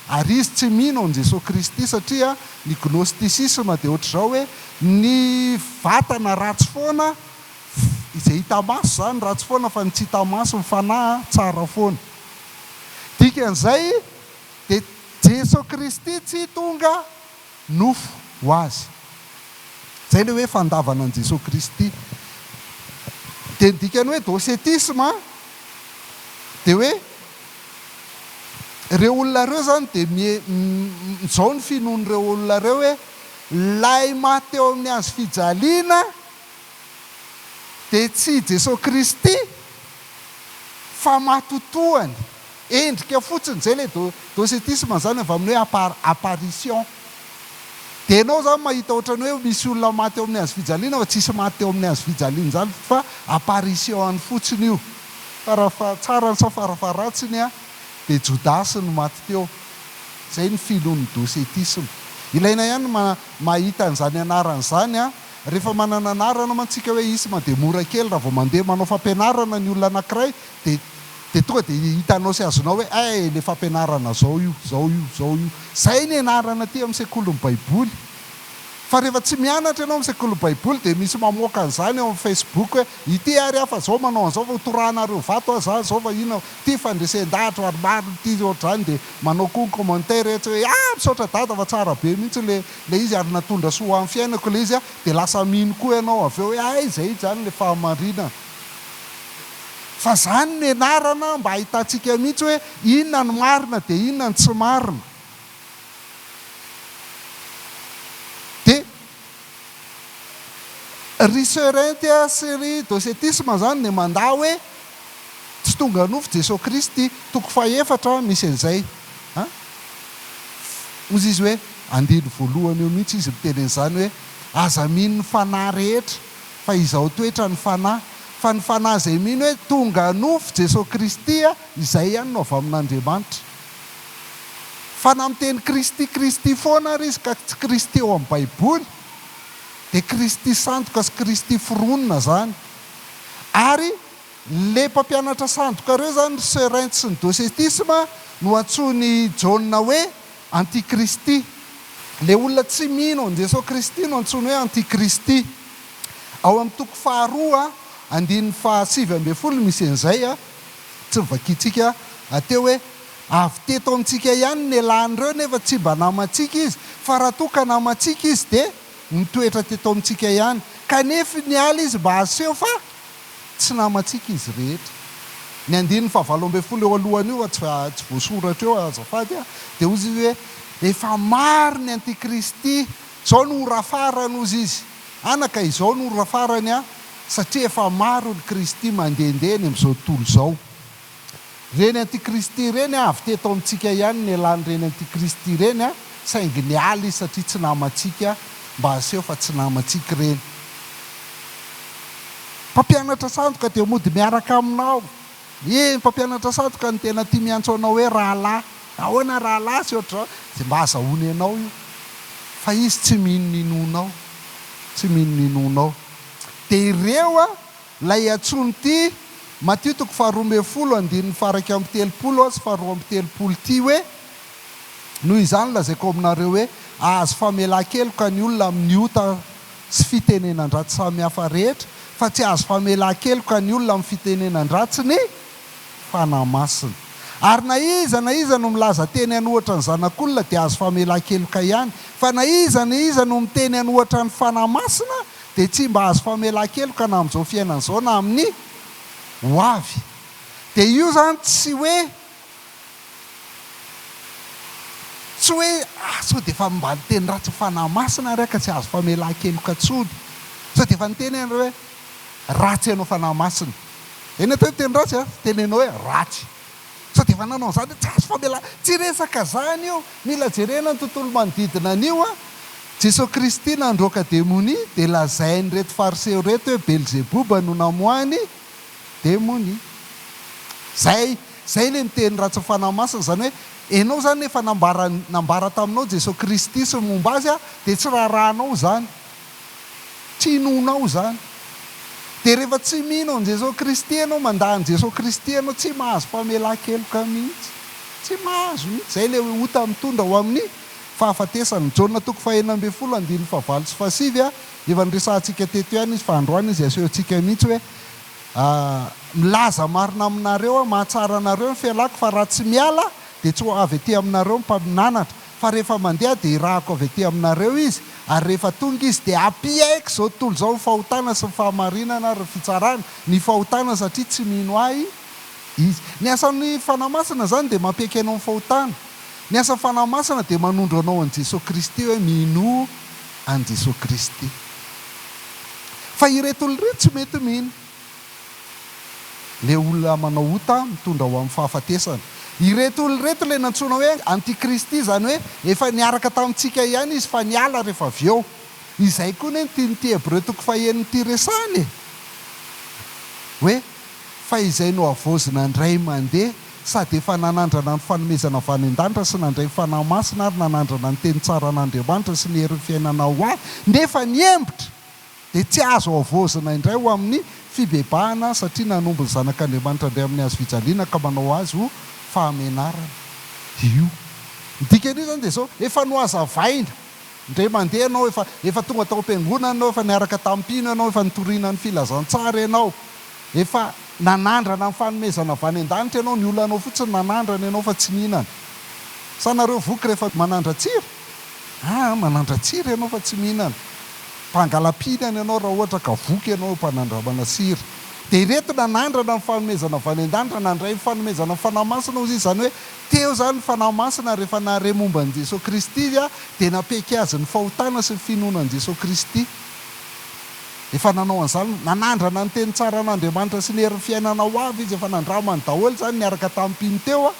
Ary izy tsy mino an'i Jesoa Kristy satria ny gnostisisma dia ohatr'izao hoe ny vatana ratsy foana, izay hita maso izany ratsy foana fa ny tsy hita maso, ny fanahy, tsara foana. Dikan'izay dia Jeso Kristy tsy tonga nofo ho azy. Izay ilay hoe fandavana an'i Jeso Kristy. Dia ny dikan'ny hoe docetisme dia hoe ireo olona ireo izany dia mijao ny finoan'ireo olona ireo hoe ilay maty teo amin'ny hazo fijaliana Dia tsy i Jesoa Kristy fa matotoany, endrika fotsiny, zay ilay docetisme izany avy amin'ny hoe apparition. Dia ianao izany mahita ohatran'ny hoe misy olona maty eo amin'ny hazo fijaliana fa tsisy maty teo amin'ny hazo fijaliana izany fa apparition-ny fotsiny io. Fara tsarany sa fara faharatsiny an, dia Jodasy no maty teo. Izay ny filon'ny docetisme. Ilaina ihany ny mahita an'izany anarana izany an. Rehefa manana anarana mantsika hoe isma dia mora kely raha vao mandeha manao fampianarana ny olona anankiray dia dia tonga dia hitanao sy azonao hoe eh ilay fampianarana izao io, izao io, izao io. Izay ny anarana aty amin'ny sekolin'ny baiboly. Fa rehefa tsy mianatra ianao amin'ny sekolin'ny baiboly dia misy mamoaka an'izany ao amin'ny facebook hoe ity ary aho fa zao manao an'izao fa ho torahanareo vato aho zany zao fa inona ity fandresen-dahatra ary maro ity ohatr'izany dia manao koa ny commentaire etsy hoe ah misaotra dada fa tsara be mihitsy ilay ilay izy ary natondra soa ho an'ny fiainako ilay izy dia lasa mino koa ianao avy eo hoe hay izay izany ilay fahamarinana fa izany no ianarana mba hahitantsika mihitsy hoe inona no marina dia inona no tsy marina dia ry Soeur Inty sy ry Docetisme izany dia mandà hoe Tsy tonga nofo Jesoa Kristy toko fahefatra misy an'izay a! Hozy izy hoe, andiny voalohany eo mihitsy izy miteny an'izany hoe, aza mino ny fanahy rehetra fa izao toetra ny fanahy, fa ny fanahy izay mino hoe tonga nofo Jesoa Kristy a! izay ihany no avy amin'Andriamanitra. Fanahy miteny Kristy Kristy foana ary izy ka tsy Kristy ao amin'ny baiboly dia Kristy sandoka sy Kristy foronina izany. Ary le mpampianatra sandoka reo zany ry Seurens sy ny docetisme no antsoin'i Jaona hoe antikristy. Le olona tsy mino an'i Jesoa Kristy no antsoiny hoe antikristy. Ao amin'ny toko faharoa andininy fahasivy ambin'ny folo misy an'izay a. Tsy ny vakintsika aty hoe avy teto amintsika ihany ny elan'ireo nefa tsy mba namantsika izy fa raha toa ka namantsika izy dia. Mitoetra teto amintsika ihany, kanefa niala izy mba haseho fa tsy namantsika izy rehetra. Ny andininy fahavalo ambin'ny folo eo alohany io, tsy voasoratra eo azafady a, dia hozy izy hoe, Efa maro ny antikristy, izao no ora farany, hozy izy. Anaka, izao no ora farany an, satria efa maro ny kristy mandehandeha eny amin'izao tontolo izao. Reny antikristy reny a, avy teto amintsika ihany ny elan'ny reny antikristy ireny a, saingy niala izy satria tsy namantsika, mba aseho fa tsy namantsika ireny. Mpampianatra sandoka dia mody miaraka aminao. Eny, mpampianatra sandoka no tena tia miantso anao hoe rahalahy. Ahoana rahalahy sy ohatr'izao, dia mba azahoany anao io. Fa izy tsy mino ny inoanao, tsy mino ny inoanao. Dia ireo a! Ilay antsoiny ity, Matio toko faharoa ambin'ny folo, andininy faha-iraika amby telopolo sy faharoa amby telopolo ity hoe, Noho izany lazaiko aminareo hoe, ahazo famelan-keloka ny olona amin'ny ota sy fitenenan-dratsy samihafa rehetra, fa tsy ahazo famelan-keloka ny olona amin'ny fitenenan-dratsy ny Fanahy Masina. Ary na iza na iza no milaza teny an'ohatra ny Zanak'olona dia ahazo famelan-keloka ihany, fa na iza na iza no miteny an'ohatra ny Fanahy Masina Dia tsy mba azo famelan-keloka na amin'izao fiainana izao na amin'ny ho avy. Dia io izany tsy hoe, tsy hoe ah sao dia efa mba niteny ratsy ny Fanahy Masina ary aho ka tsy azo famelan-keloka intsony. Sao dia efa niteny aho hoe ratsy ianao Fanahy Masina. Eny atao ny teny ratsy a, tenenao hoe ratsy. Sao dia efa nanao an'izany hoe tsy azo famelana. Tsy resaka izany io. Mila jerena ny tontolo manodidina an'io an. Jesoa Kristy nandroaka demonia dia lazain'ireto fariseo ireto hoe Belzeboba no namoahany demonia. Izay, izay ilay miteny ratsy ny Fanahy Masina, izany hoe ianao izany efa nambaran, nambara taminao Jesoa Kristy sy ny momba Azy an, dia tsy raharahanao izany. Tsy inoanao izany. Dia rehefa tsy mino an'i Jesoa Kristy ianao, mandà an'i Jesoa Kristy ianao, tsy mahazo famelan-keloka mihitsy. Tsy mahazo mihitsy. Izay ilay hoe ota mitondra ho amin'ny fahafatesana. Jaona toko fahenina ambin'ny folo andininy fahavalo sy fahasivy a. Efa niresahantsika teto ihany izy fa androany izy asehontsika mihitsy hoe milaza marina aminareo aho, mahatsara anareo ny fialako fa raha tsy miala dia tsy ho avy aty aminareo ny mpaminanatra. fa rehefa mandeha dia irahako avy aty aminareo izy, ary rehefa tonga izy dia hampiaiky izao tontolo izao ny fahotana sy ny fahamarinana ary ny fitsarana, ny fahotana satria tsy mino ahy izy. Ny asan'ny Fanahy Masina izany dia mampiaiky anao ny fahotana. Ny asan'ny Fanahy Masina dia manondro anao an'i Jesoa Kristy hoe minoa an'i Jesoa Kristy. Fa ireto olona ireto tsy mety mino. Ilay olona manao ota mitondra ho amin'ny fahafatesana. Ireto olona ireto ilay nantsoina hoe antikristy, izany hoe efa niaraka tamintsika ihany izy fa niala rehefa avy eo. Izay koa anie ny tian'ity Hebreo toko fahenina ity resahana e! Hoe fa izay nohavaozina indray mandeha sady efa nanandrana ny fanomezana avy any an-danitra sy nandray ny Fanahy Masina ary nanandrana ny teny tsaran'Andriamanitra sy ny herin'ny fiainana ho ahy nefa nihembitra. dia tsy azo havaozina indray ho amin'ny fibebahana satria nanombo ny Zanak'Andriamanitra indray amin'ny hazofijaliana ka manao azy ho fahamenarana io. Ny dikan'io izany dia izao, efa nohazavaina, indray mandeha ianao, efa efa tonga tao am-piangonana ianao, efa niaraka tamin'ny mpino ianao, efa nitoriana ny filazantsara ianao, efa nanandrana ny fanomezana avy any an-danitra ianao, ny olanao fotsiny nanandrana ianao fa tsy nihinana. Sa nareo voky rehefa manandra-tsira? Ah ah, manandratsira ianao fa tsy mihinana. Mpangalam-pihinana ianao raha ohatra ka voky ianao eo am-panandramana sira. Dia ireto nanandrana ny fanomezana avy any an-danitra nandray ny fanomezana ny Fanahy Masina hozy izy, izany hoe teo izany ny Fanahy Masina rehefa nahare momba an'i Jesoa Kristy izy dia nampiaiky azy ny fahotana sy ny finoana an'i Jesoa Kristy. Efa nanao an'izany, nanandrana ny teny tsaran'Andriamanitra sy ny herin'ny fiainana ho avy izy, efa nandramany daholo izany niaraka tamin'ny mpino teo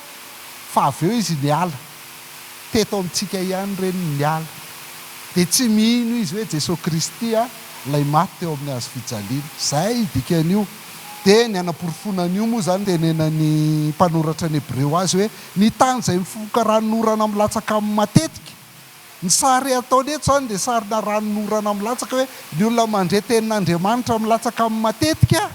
fa avy eo izy niala. teto amintsika ihany ireny niala, dia tsy mino izy hoe Jesoa Kristy a, ilay maty teo amin'ny hazo fijaliana. Izay dikan'io. Dia ny hanaporofoana an'io moa izany tenenan'ny mpanoratra ny Hebreo azy hoe ny tany izay mifoka ranon'orana milatsaka aminy matetika. Ny sary ataony eto izany dia sarina ranon'orana milatsaka hoe ny olona mandre tenin'Andriamanitra milatsaka aminy matetika.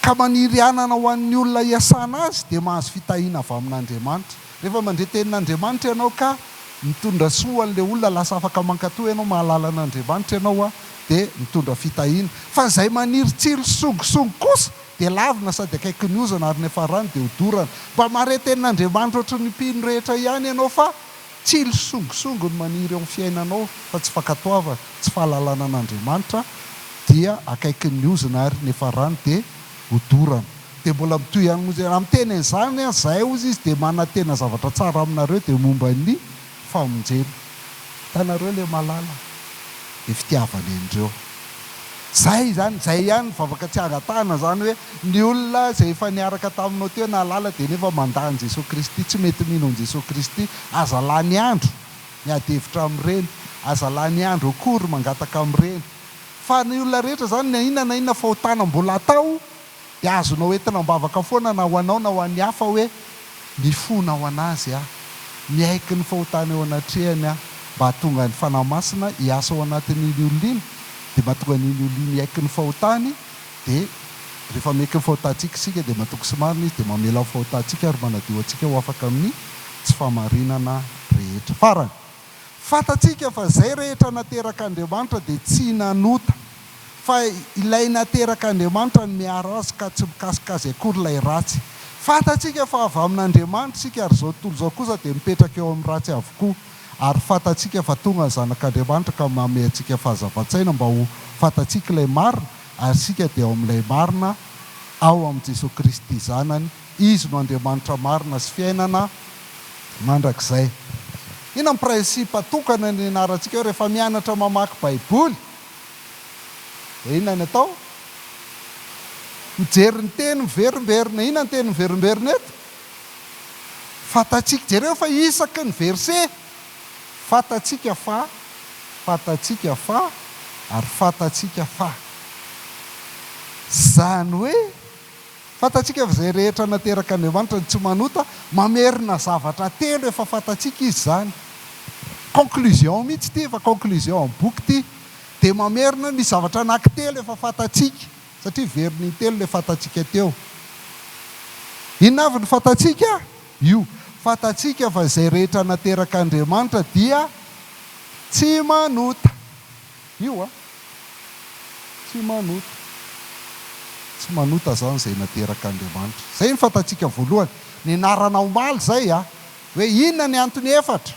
ka maniry hanana ho an'ny olona hiasana azy dia mahazo fitahiana avy amin'Andriamanitra. Rehefa mandre tenin'Andriamanitra ianao ka mitondra soa ho an'ilay olona lasa afaka mankatò ianao mahalala an'Andriamanitra ianao a dia mitondra fitahiana. Fa izay maniry tsilo songisongy kosa dia lavina sady akaiky ny ozana ary ny hafarany dia ho dorana. Mba mahare tenin'Andriamanitra ohatry ny mpino rehetra ihany ianao fa. Tsilo sy songisongy no maniry eo amin'ny fiainanao fa tsy fankatoavana, tsy fahalalana an'Andriamanitra dia akaikin'ny ozona ary ny farany dia ho dorana. Dia mbola mitohy ihany monja ianao. Miteny an'izany aho, izay hozy izy dia manantena zavatra tsara aminareo dia momba ny famonjena. Hitanareo ilay malala? Dia fitiavana indreo. Zay zany, zay ihany vavaka tsy angatahana zany hoe ny olona zay efa niaraka taminao teo nahalala dia nefa mandà an'i Jesoa Kristy, tsy mety mino an'i Jesoa Kristy, aza lany andro miady hevitra amin'ireny, aza lany andro akory mangataka amin'ireny, fa ny olona rehetra zany na inona na inona fahotana mbola atao Dia azonao entina am-bavaka foana na ho anao na ho an'ny hafa hoe, Mifona ho an'Azy aho. Miaiky ny fahotana eo anatrehany aho, mba hahatonga ny Fanahy Masina hiasa ao anatin'iny olona iny, dia mahatonga an'iny olona iny hiaiky ny fahotany, dia rehefa miaiky ny fahotantsika isika dia matoky sy marina Izy dia mamela ny fahotantsika ary manadio antsika ho afaka amin'ny tsy fahamarinana rehetra. Farany. Fantatsika fa izay rehetra naterak'Andriamanitra dia tsy nanota, fa Ilay naterak'Andriamanitra no miaro azy ka tsy mikasika azy akory ilay ratsy. Fantatsika fa avy amin'Andriamanitra isika ary izao tontolo izao kosa dia mipetraka eo amin'ny ratsy avokoa. Ary fantatsika fa tonga ny Zanak'Andriamanitra ka manome antsika fahazavan-tsaina mba ho fantatsika ilay marina, ary isika dia ao amin'ilay marina ao amin'i Jesoa Kristy Zanany, Izy no Andriamanitra marina sy fiainana mandrakizay. Inona ny principe tokana nianarantsika eo rehefa mianatra mamaky baiboly? Dia inona ny atao? Mijery ny teny miverimberina. Inona ny teny miverimberina eto? Fantatsika. Jereo fa isaky ny verset, fantatsika fa, fantatsika fa, ary fantatsika fa. Izany hoe. Fantatsika fa izay rehetra naterak' Andriamanitra no tsy manota, mamerina zavatra telo efa fantatsika Izy izany. Conclusion mihitsy ity, efa conclusion amin'ny boky ity. Dia mamerina ny zavatra anankitelo efa fantatsika, satria very n'intelo ilay fantatsika teo. Inona avy no fantatsika? Io, fantatsika fa izay rehetra naterak' Andriamanitra dia tsy manota. Io a! Tsy manota. Tsy manota zany zay nateraka Andriamanitra. Zay ny fantatsika voalohany. Nianarana omaly zay a! Hoe inona ny antony efatra?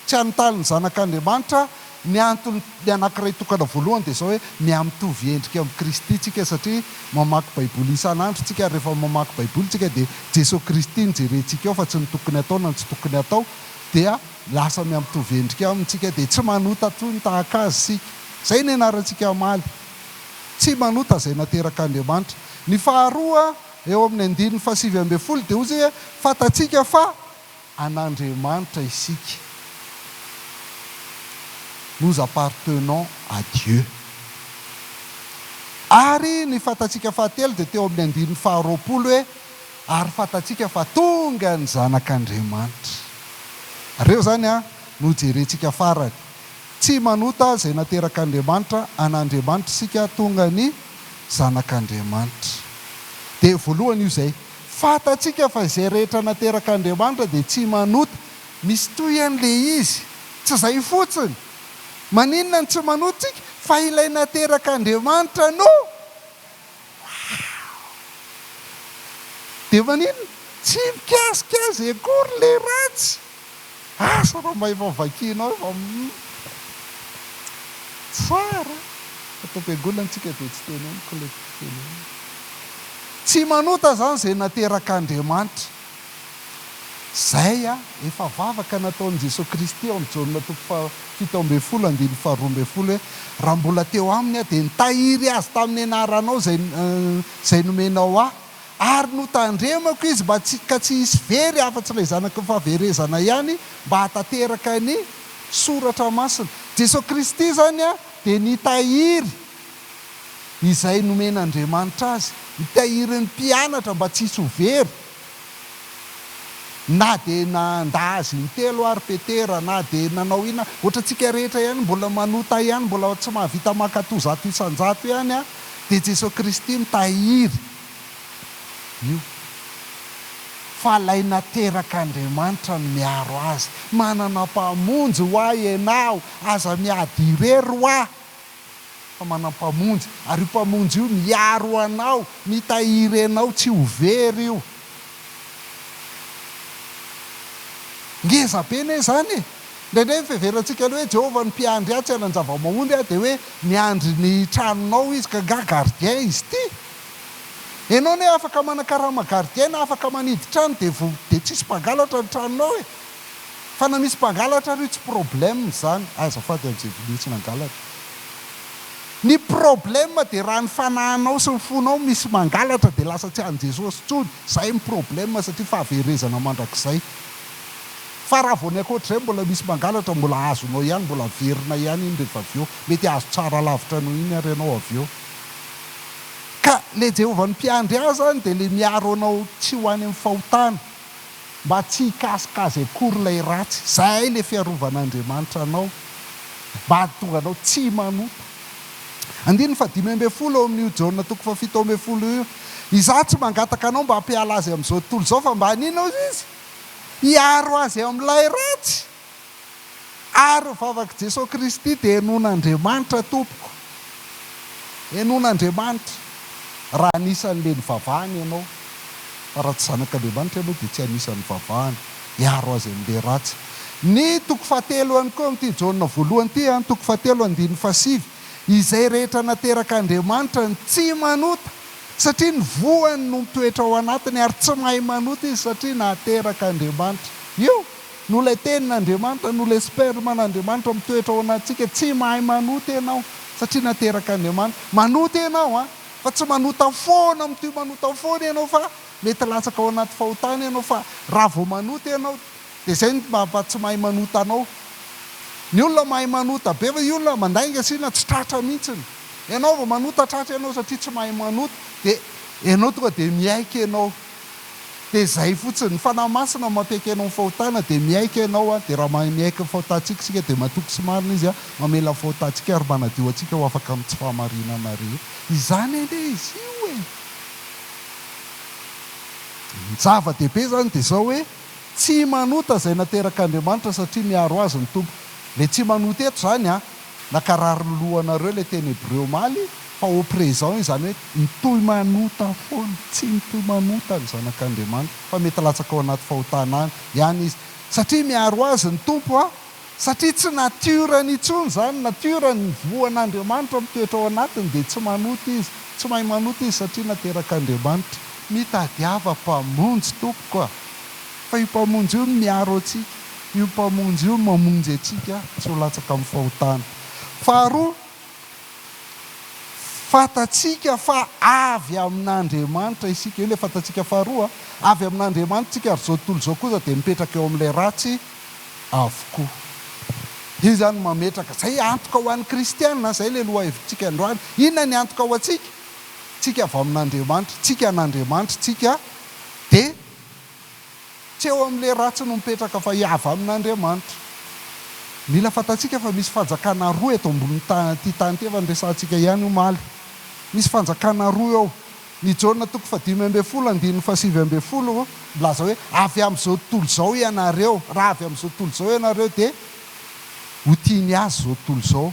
Tsy anotany ny zanak' Andriamanitra ny antony ny anankiray tokana voalohany dia zao hoe mihamitovy endrika amin'i Kristy tsika satria mamaky baiboly isan andro tsika ary rehefa mamaky baiboly tsika dia Jeso Kristy no jerentsika eo fa tsy ny tokony atao na ny tsy tokony atao dia Lasa miha-mitovy endrika aminy isika dia tsy manota toy ny tahaka azy isika. Izay no ianarantsika hamaly. Tsy manota izay naterakan'Andriamanitra. Ny faharoa, eo amin'ny andininy fahasivy ambin'ny folo, dia hoy izy, Fantatsika fa an'Andriamanitra isika. Nous appartenons à Dieu. Ary ny fantatsika fahatelo dia teo amin'ny andininy faharoapolo hoe, Ary fantatsika fa tonga ny Zanak'Andriamanitra. Reo zany an no jerentsika farany. Tsy manota izay naterak'Andriamanitra an'Andriamanitra isika tonga ny Zanak'Andriamanitra. Dia voalohany io zay. Fantatsika fa izay rehetra naterak'Andriamanitra dia tsy manota. Misy tohiny le izy. Tsy zay fotsiny. Maninona no tsy manota tsika? Fa ilay naterak'Andriamanitra no. Dia maninona? Tsy mikasika azy akory ilay ratsy. Asa raha mba efa vakianao efa tsara. Ato am-piangonana tsika dia tsy teneniko ilay tenenina. Tsy manota izany izay naterak'Andriamanitra. Izay a! Efa vavaka nataon'i Jesoa Kristy ao amin'ny Jaona toko fahafito ambin'ny folo andininy faharoa ambin'ny folo hoe, Raha mbola teo aminy aho, dia nitahiry azy tamin'ny anaranao izay, izay nomenao ahy, ary notandremako izy mba tsy, ka tsy hisy very afa-tsy ilay zanaky ny fahaverezana ihany, mba hahatanteraka ny Soratra Masina. Jesoa Kristy izany a, dia nitahiry izay nomen'Andriamanitra azy, nitahiry ny mpianatra mba tsy hisy ho very. Na dia nandà azy intelo ary Petera, na dia nanao inona, ohatra antsika rehetra ihany mbola manota ihany, mbola tsy mahavita mankato zato isan-jato ihany an, dia Jesoa Kristy mitahiry io fa ilay nateraka Andriamanitra no miaro azy, manana mpamonjy ho ahy ianao, aza miady irery hoa. fa manana Mpamonjy, ary io Mpamonjy io miaro anao, mitahiry anao tsy ho very io. Ngeza be anie izany e! Indraindray ny fiheverantsika ny hoe Jehovah no mpiandry ahy, tsy hanan-java-mahomby aho, dia hoe miandry ny tranonao Izy, ka angaha gardien Izy ity? Ianao anie afaka manakarama gardien na afaka manidy trano dia dia tsisy mpangalatra ny tranonao e! Fa na misy mpangalatra ary io tsy problème izany, azafady amin'izay vilia tsy nangalatra. Ny problème dia raha ny fanahinao sy ny fonao misy mangalatra dia lasa tsy an'i Jesosy intsony, izay ny problème satria fahaverezana mandrakizay. Fa raha vao ny ankoatr'izay mbola misy mangalatra, mbola azonao ihany, mbola averina ihany iny rehefa avy eo. Mety hahazo tsara lavitra noho iny ary ianao avy eo. Ka ilay Jehovah ny Mpiandry ahy izany dia ilay miaro anao tsy ho any amin'ny fahotana. Mba tsy hikasoka azy akory ilay ratsy. Izay ilay fiarovan'Andriamanitra anao. Mba hahatonga anao tsy manota. Andininy fahadimy ambin'ny folo ao amin'io Jaona toko fahafito ambin'ny folo io. Izaho tsy mangataka anao mba hampiala azy amin'izao tontolo izao, fa mba haninona hoy izy? Hiaro azy amin'ilay ratsy. Ary ny vavak'i Jesoa Kristy dia henoin'Andriamanitra tompoko. Henoin'Andriamanitra raha anisan'ilay nivavahany ianao. Fa raha tsy zanak'Andriamanitra ianao dia tsy anisan'ny nivavahany. Hiaro azy amin'ilay ratsy. Ny toko fahatelo ihany koa amin'ity Jaona voalohany ity an, toko fahatelo andininy fahasivy, Izay rehetra nateraka Andriamanitra no tsy manota, satria ny voany no mitoetra ao anatiny, ary tsy mahay manota izy satria nateraka Andriamanitra. Io. Noho ilay Tenin'Andriamanitra, noho ilay Sperman'Andriamanitra mitoetra ao anatintsika, tsy mahay manota ianao, satria naterak'Andriamanitra. Manota ianao an! Fa tsy manota foana, mitohy manota foana ianao fa mety latsaka ao anaty fahotana ianao, fa raha vao manota ianao, dia izay no maha tsy mahay manota anao. Ny olona mahay manota be, fa io olona mandainga sy na tsy tratra mihitsiny. Ianao vao manota tratra ianao satria tsy mahay manota, dia ianao tonga dia miaiky ianao. Dia izay fotsiny. Ny Fanahy Masina no mampiaiky anao ny fahotana dia miaiky ianao an, dia raha mahay miaiky ny fahotantsika isika dia matoky sy marina Izy an, mamela ny fahotantsika ary manadio antsika ho afaka amin'ny tsy fahamarinana rehetra. Izany anie izy io e! Ny zava-dehibe izany dia izao hoe, tsy manota izay naterak'Andriamanitra satria miaro azy ny Tompo. Ilay tsy manota eto izany an, Nakarary ny lohanareo ilay teny hebreo omaly fa au présent iny izany hoe mitohy manota foana, tsy mitohy manota ny zanak'Andriamanitra fa mety latsaka ao anaty fahotana any ihany izy satria miaro azy ny Tompo a! satria tsy nature-ny intsony izany, nature-ny ny voan'Andriamanitra mitoetra ao anatiny dia tsy manota izy, tsy mahay manota izy satria naterak'Andriamanitra. Mitadiava mpamonjy tompoko a! fa io mpamonjy io no miaro antsika. Io Mpamonjy io no mamonjy antsika tsy ho latsaka amin'ny fahotana. Faharoa, fantatsika fa avy amin'Andriamanitra isika. Io ilay fantatsika faharoa. Avy amin'Andriamanitra isika ary izao tontolo izao kosa dia mipetraka eo amin'ilay ratsy avokoa. Io izany mametraka, izay antoka ho an'ny kristiana, izay ilay lohahevitsika androany. Inona ny antoka ho antsika? Tsika avy amin'Andriamanitra, tsika an'Andriamanitra, tsika dia. Tsy eo amin'ilay ratsy no mipetraka fa hiava amin'Andriamanitra. Mila fantatsika fa misy fanjakana roa eto ambonin'ny tanin'ity tany ity, efa niresahantsika ihany omaly. Misy fanjakana roa eo. Ny Jaona toko fahadimy ambin'ny folo andininy fahasivy ambin'ny folo milaza hoe, Avy amin'izao tontolo izao ianareo. Raha avy amin'izao tontolo izao ianareo dia ho tiany azy izao tontolo izao.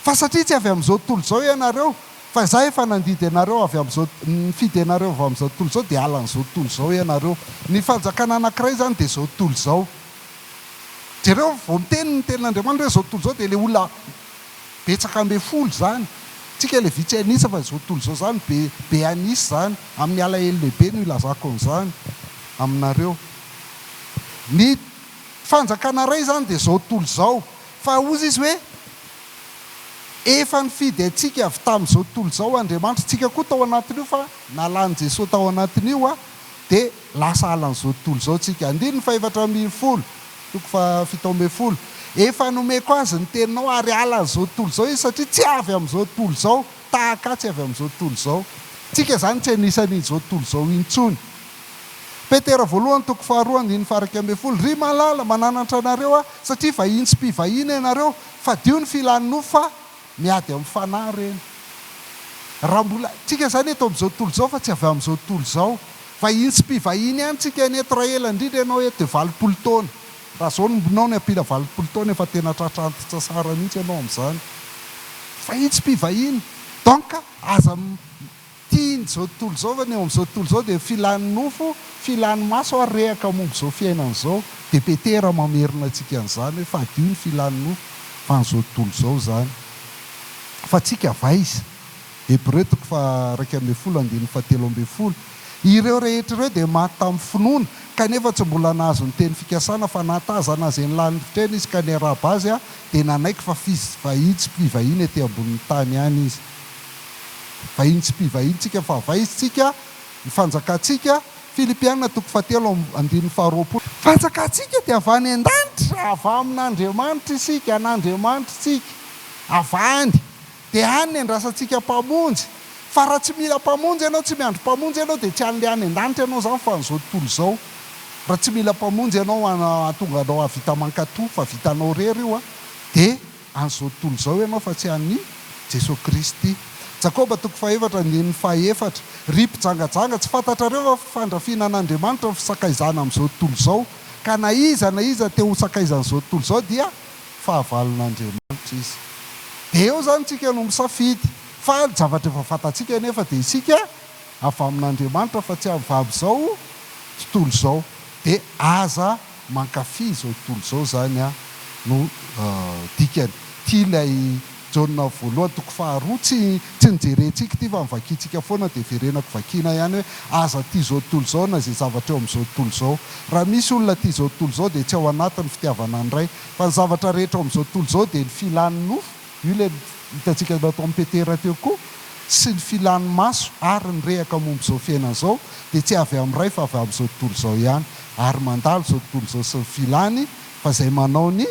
Fa satria tsy avy amin'izao tontolo izao ianareo, Fa izaho efa nandidy anareo avy amin'izao, nifidy anareo avy amin'izao tontolo izao, dia halan'izao tontolo izao ianareo. Ny fanjakana anankiray izany dia izao tontolo izao. Jereo, vao miteny ny tenin'Andriamanitra hoe izao tontolo izao, dia ilay olona betsaka ambin'ny folo izany. Isika ilay vitsy an'isa, fa izao tontolo izao izany be, be an'isa izany. Amin'ny alahelo lehibe no ilazako an'izany aminareo. Ny fanjakana iray izany dia izao tontolo izao. Fa hozy izy hoe. Efa nifidy antsika avy tamin'izao tontolo izao Andriamanitra, tsika koa tao anatin'io fa nalan'i Jesoa tao anatin'io dia lasa alan'izao tontolo izao tsika. Andininy fahefatra ambin'ny folo, toko fahafito ambin'ny folo, Efa nomeko azy ny teninao ary alan'izao tontolo izao izy satria tsy avy amin'izao tontolo izao, tahaka ahy tsy avy amin'izao tontolo izao. Tsika izany tsy anisan'in'izao tontolo izao intsony. Petera voalohany, toko faharoa, andininy faha iraika ambin'ny folo, Ry malala, mananatra anareo aho satria vahiny sy mpivahiny ianareo, Fadio ny filan'ny nofo fa miady amin'ny fanahy ireny. Raha mbola tsika izany eto amin'izao tontolo izao fa tsy avy amin'izao tontolo izao. Vahiny sy mpivahiny ihany tsika eny eto raha ela indrindra ianao eto dia valopolo taona. Raha izao no mbinao ny ampila valopolo taona efa tena tratra antitsasara mihitsy ianao amin'izany. Vahiny sy mpivahiny. Donc aza Tian'izao tontolo izao ve ny eo amin'izao tontolo izao dia filany nofo, filany maso ary rehaka momba izao fiainana izao. Dia Petera mamerina antsika an'izany hoe fadio ny filany nofo fa an'izao tontolo izao izany. Fa antsika avy aiza? Hebreo toko faha-iraika ambin'ny folo andininy fahatelo ambin'ny folo. Ireo rehetra ireo dia maty tamin'ny finoana, kanefa tsy mbola nahazo ny teny fikasana, fa nahatazana an'izay nilanin'ny fitrena izy ka niarahaba azy dia nanaiky fa vahiny sy mpivahiny ety ambonin'ny tany ihany izy. Vahiny tsy mpivahintsika fa vaizintsika ny fanjakantsika, Filipiana toko fahatelo andininy faharoapolo. Fanjakantsika dia avy any an-danitra, avy amin'Andriamanitra isika, an'Andriamanitritsika, avy any, dia any ny andrasantsika Mpamonjy, fa raha tsy mila Mpamonjy ianao, tsy miandry Mpamonjy ianao, dia tsy an'ilay any an-danitra ianao izany fa an'izao tontolo izao, raha tsy mila Mpamonjy ianao hahatonga anao hahavita mankato, fa vitanao irery io an, dia. an'izao tontolo izao ianao fa tsy an'i Jesoa Kristy. Jakoba toko fahefatra andininy fahefatra. Ry mpijangajanga, tsy fantatrareo va fa fandrafiana an'Andriamanitra ny fisakaizana amin'izao tontolo izao, ka na iza na iza te ho sakaizan'izao tontolo izao dia fahavalon'Andriamanitra izy. Dia eo izany isika no misafidy, fa ny zavatra efa fantatsika anefa dia isika avy amin'Andriamanitra fa tsy avy izao tontolo izao. Dia aza. Mankafy izao tontolo izao izany aho no dikany. Tia ilay Jaona voalohany toko faharoa. Tsy tsy nojerentsika ity fa novakintsika foana dia verenako vakiana ihany hoe aza tia izao tontolo izao na izay zavatra eo amin'izao tontolo izao. Raha misy olona tia izao tontolo izao dia tsy ao anatin'ny fitiavana ny Ray. Fa ny zavatra rehetra ao amin'izao tontolo izao dia ny filan'ny nofo. Io ilay hitantsika nataon'i Petera teo koa, sy ny filan'ny maso ary ny rehaka momba izao fiainana izao dia tsy avy amin'ny Ray fa avy amin'izao tontolo izao ihany ary mandalo izao tontolo izao sy ny filany fa izay manao ny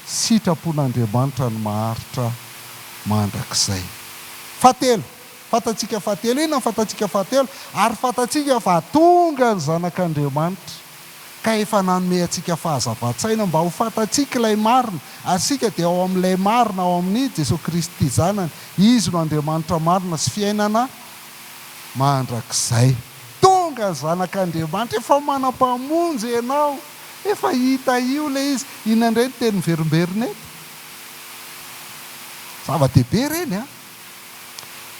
sitrapon'Andriamanitra no maharitra mandrakizay. Fahatelo, fantatsika fahatelo, inona ny fantatsika fahatelo? Ary fantatsika fa tonga ny Zanak'Andriamanitra ka efa nanome antsika fahazavan-tsaina mba ho fantatsika ilay marina, ary isika dia ao amin'ilay marina, ao amin'i Jesoa Kristy Zanany, Izy no Andriamanitra marina sy fiainana mandrakizay. Tonga ny Zanak'Andriamanitra, efa mana Mpamonjy ianao, efa hita io ilay izy, inona indray ny teny miverimberina eto? Zava-dehibe ireny an!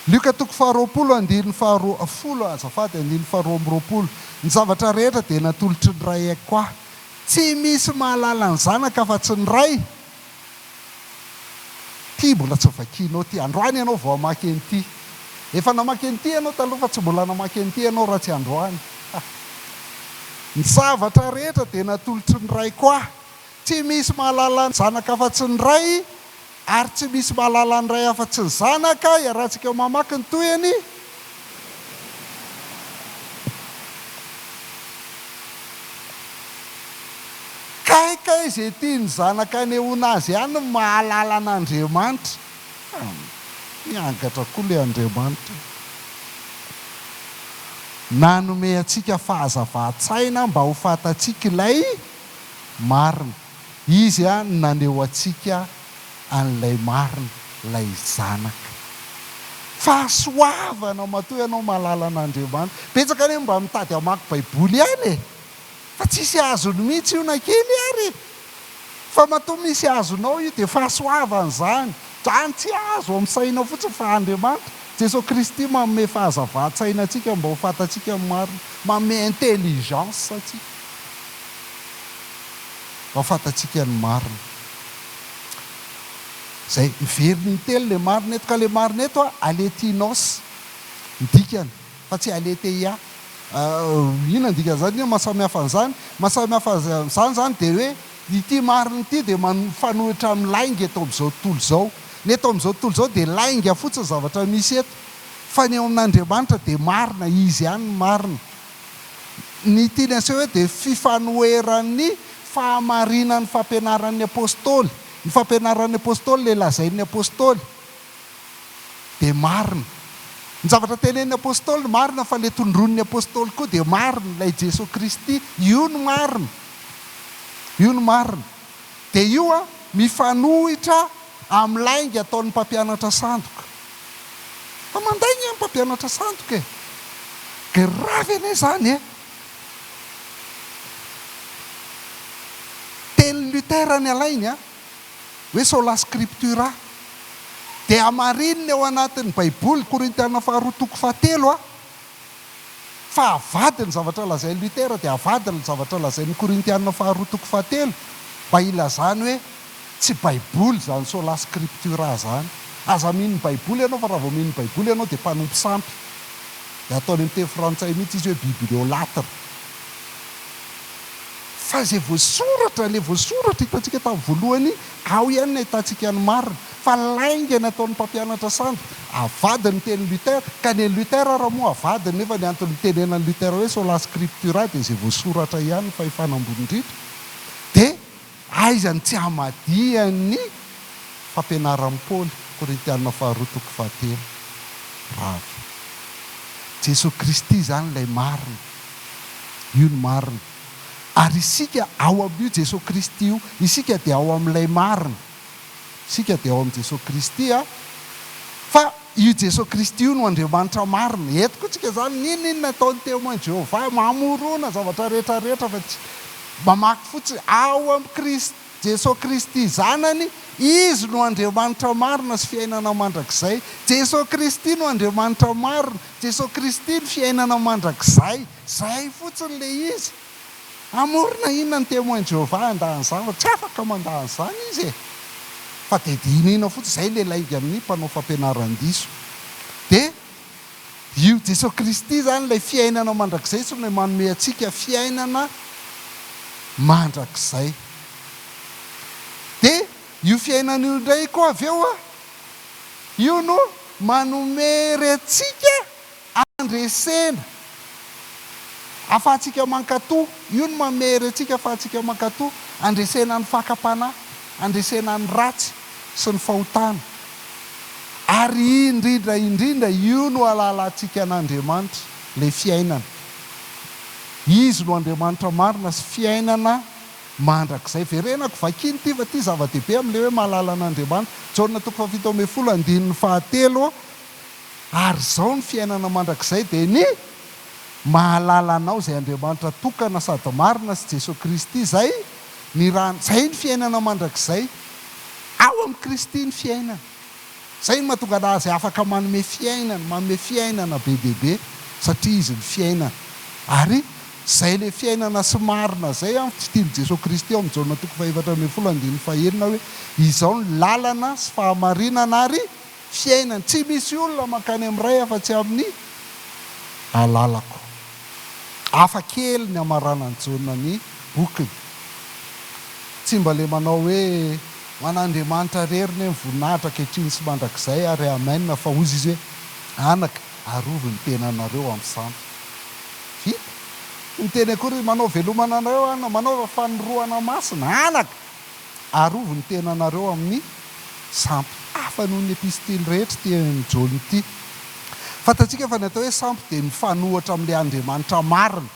Lioka toko faharoapolo andininy faharoa folo azafady andininy faharoa amby roapolo Ny zavatra rehetra dia natolotry ny Ray ahy koa Tsy misy mahalala ny Zanaka afa-tsy ny Ray Ity mbola tsy vakianao ity Androany ianao vao hamaky an'ity Efa namaky an'ity ianao taloha fa tsy mbola namaky an'ity ianao raha tsy androany Ny zavatra rehetra dia natolotry ny Ray koa Tsy misy mahalala ny Zanaka afa-tsy ny Ray Ary tsy misy mahalala ny Ray afa-tsy ny Zanaka, iarahantsika mamaky ny tohiny, Kay kay izay tian'ny Zanaka anehoana azy ihany ny mahalala an'Andriamanitra. Miangatra koa ilay Andriamanitra nanome antsika fahazavan-tsaina mba ho fantatsika ilay marina. Izy ihany no naneho antsika an'ilay marina, ilay Zanaka. Fahasoavana matoa ianao mahalala an'Andriamanitra. Betsaka anie no mba mitady hamaky Baiboly ihany e! Fa tsisy azony mihitsy io na kely ary e! Fa matoa misy azonao io dia fahasoavana izany. Izany tsy azo amin'ny saina fotsiny fa Andriamanitra. Jesoa Kristy manome fahazavan-tsaina antsika mba ho fantatsika ny marina. Manome intelligence antsika. Mba fantatsika ny marina. Izay, miverina intelo ilay marina eto. Ka ilay marina eto a, aletinos, ny dikany, fa tsy aletheia. Inona ny dikan'izany? Inona ny maha samy hafa an'izany? Ny maha samy hafa an'izany izany dia hoe, ity marina ity dia mifanohitra amin'ny lainga eto amin'izao tontolo izao. Ny eto amin'izao tontolo izao dia lainga fotsiny ny zavatra misy eto. Fa ny eo amin'Andriamanitra dia marina, Izy ihany no marina. Ny tiany aseho eto dia fifanoheran'ny fahamarinan'ny fampianaran'ny Apôstôly. Ny fampianaran'ny Apôstôly, ilay lazain'ny Apôstôly dia marina. Ny zavatra tenenin'ny Apôstôly marina fa ilay tondroin'ny Apôstôly koa dia marina, ilay Jeso Kristy. Io no marina. Io no marina. Dia io an, mifanohitra amin'ny lainga ataon'ny mpampianatra sandoka. Fa manday ny mpampianatra sandoka e! Grave anie izany e! Tenin'i Luther ny alainy a! Hoe sola scriptura. Dia hamarinina eo anatin'ny baiboly Korintiana faharoa toko fahatelo a! Fa avadiny ny zavatra lazain'i Luther dia avadiny ny zavatra lazain'ny Korintiana faharoa toko fahatelo mba hilazany hoe tsy baiboly izany sola scriptura izany. Aza mino ny baiboly ianao fa raha vao mino ny baiboly ianao dia mpanompo sampy. Dia ataony amin'ny teny frantsay mihitsy izy hoe bibliolatre. Fa izay voasoratra, ilay voasoratra hitantsika tamin'ny voalohany Ao ihany ny ahitantsika ny marina, fa lainga ny ataon'ny mpampianatra sandry. Avadiny ny tenin'i Luther, ka ny an'i Luther ary moa avadiny, nefa ny antony nitenenan'i Luther hoe sola scriptura dia izay voasoratra ihany ny fahefana ambony indrindra. Dia aiza ny tsy hamadihany fampianaran'i Paoly, Korintiana faharoa toko fahatelo, rav. Jesoa Kristy izany ilay marina. Io no marina. Ary isika ao amin'io Jesoa Kristy io, isika dia ao amin'ilay marina. Isika dia ao amin'i Jesoa Kristy a! Fa io Jesoa Kristy io no Andriamanitra marina. Eto koa tsika izany, n'inon'inona ataon'ny Témoins de Jéhovah, mamorona zavatra rehetra rehetra fa tsy, mamaky fotsiny, ao amin'i Kristy, Jesoa Kristy Zanany, Izy no Andriamanitra marina sy fiainana mandrakizay. Jesoa Kristy no Andriamanitra marina, Jesoa Kristy no fiainana mandrakizay. Zay fotsiny le izy. Hamorona inona ny Témoins de Jéhovah handany zany fa tsy afaka mandany zany izy e! Fa de dinihina fotsiny zay le lainga amin'ny mpanao fampianaran-diso. De io Jesoa Kristy zany ilay fiainana mandrakizay sy ilay manome antsika fiainana mandrakizay. De io fiainana io indray koa avy eo, io no manome hery antsika Handresena afahantsika mankato. Io no mamery antsika afahantsika mankato. Handresena ny fakam-panahy. Handresena ny ratsy sy ny fahotana. Ary indrindra indrindra, io no hahalalantsika an'Andriamanitra, ilay fiainana. Izy no Andriamanitra marina sy fiainana mandrakizay. Verenako, vakino ity fa ity zava-dehibe amin'ilay hoe mahalala an'Andriamanitra. Jaona toko fahafito ambin'ny folo andininy fahatelo, Ary izao ny fiainana mandrakizay dia ny mahalala anao izay Andriamanitra tokana sady marina sy Jesoa Kristy izay ny rany izay ny fiainana mandrakizay. Ao amin'i Kristy ny fiainana. Izay no mahatonga Azy afaka manome fiainana, manome fiainana be dia be satria Izy ny fiainana. Ary izay ilay fiainana sy marina izay an, fitian'i Jesoa Kristy ao amin'i Jaona toko fahefatra ambin'ny folo andininy fahenina hoe, Izao ny lalana sy fahamarinana ary. Fiainany. Tsy misy olona mankany amin'ny Ray afa-tsy amin'ny alalako. Hafa kely ny hamaranan'i Jaona ny bokiny. Tsy mba le manao hoe, Ho an'Andriamanitra rery ne ny voninahitra ankehitriny sy mandrakizay ary Amen, fa hozy izy hoe, Anaka, arovy ny tenanareo amin'ny sampy. Vita. Tsy miteny akory izy, Manao velomana anareo aho, manaova fanorohana masina. Anaka! Arovy ny tenanareo amin'ny sampy hafa noho ny epistily rehetra ity an'i Jaona ity. Fantatsika fa ny atao hoe sampy dia mifanohitra amin'ilay Andriamanitra marina.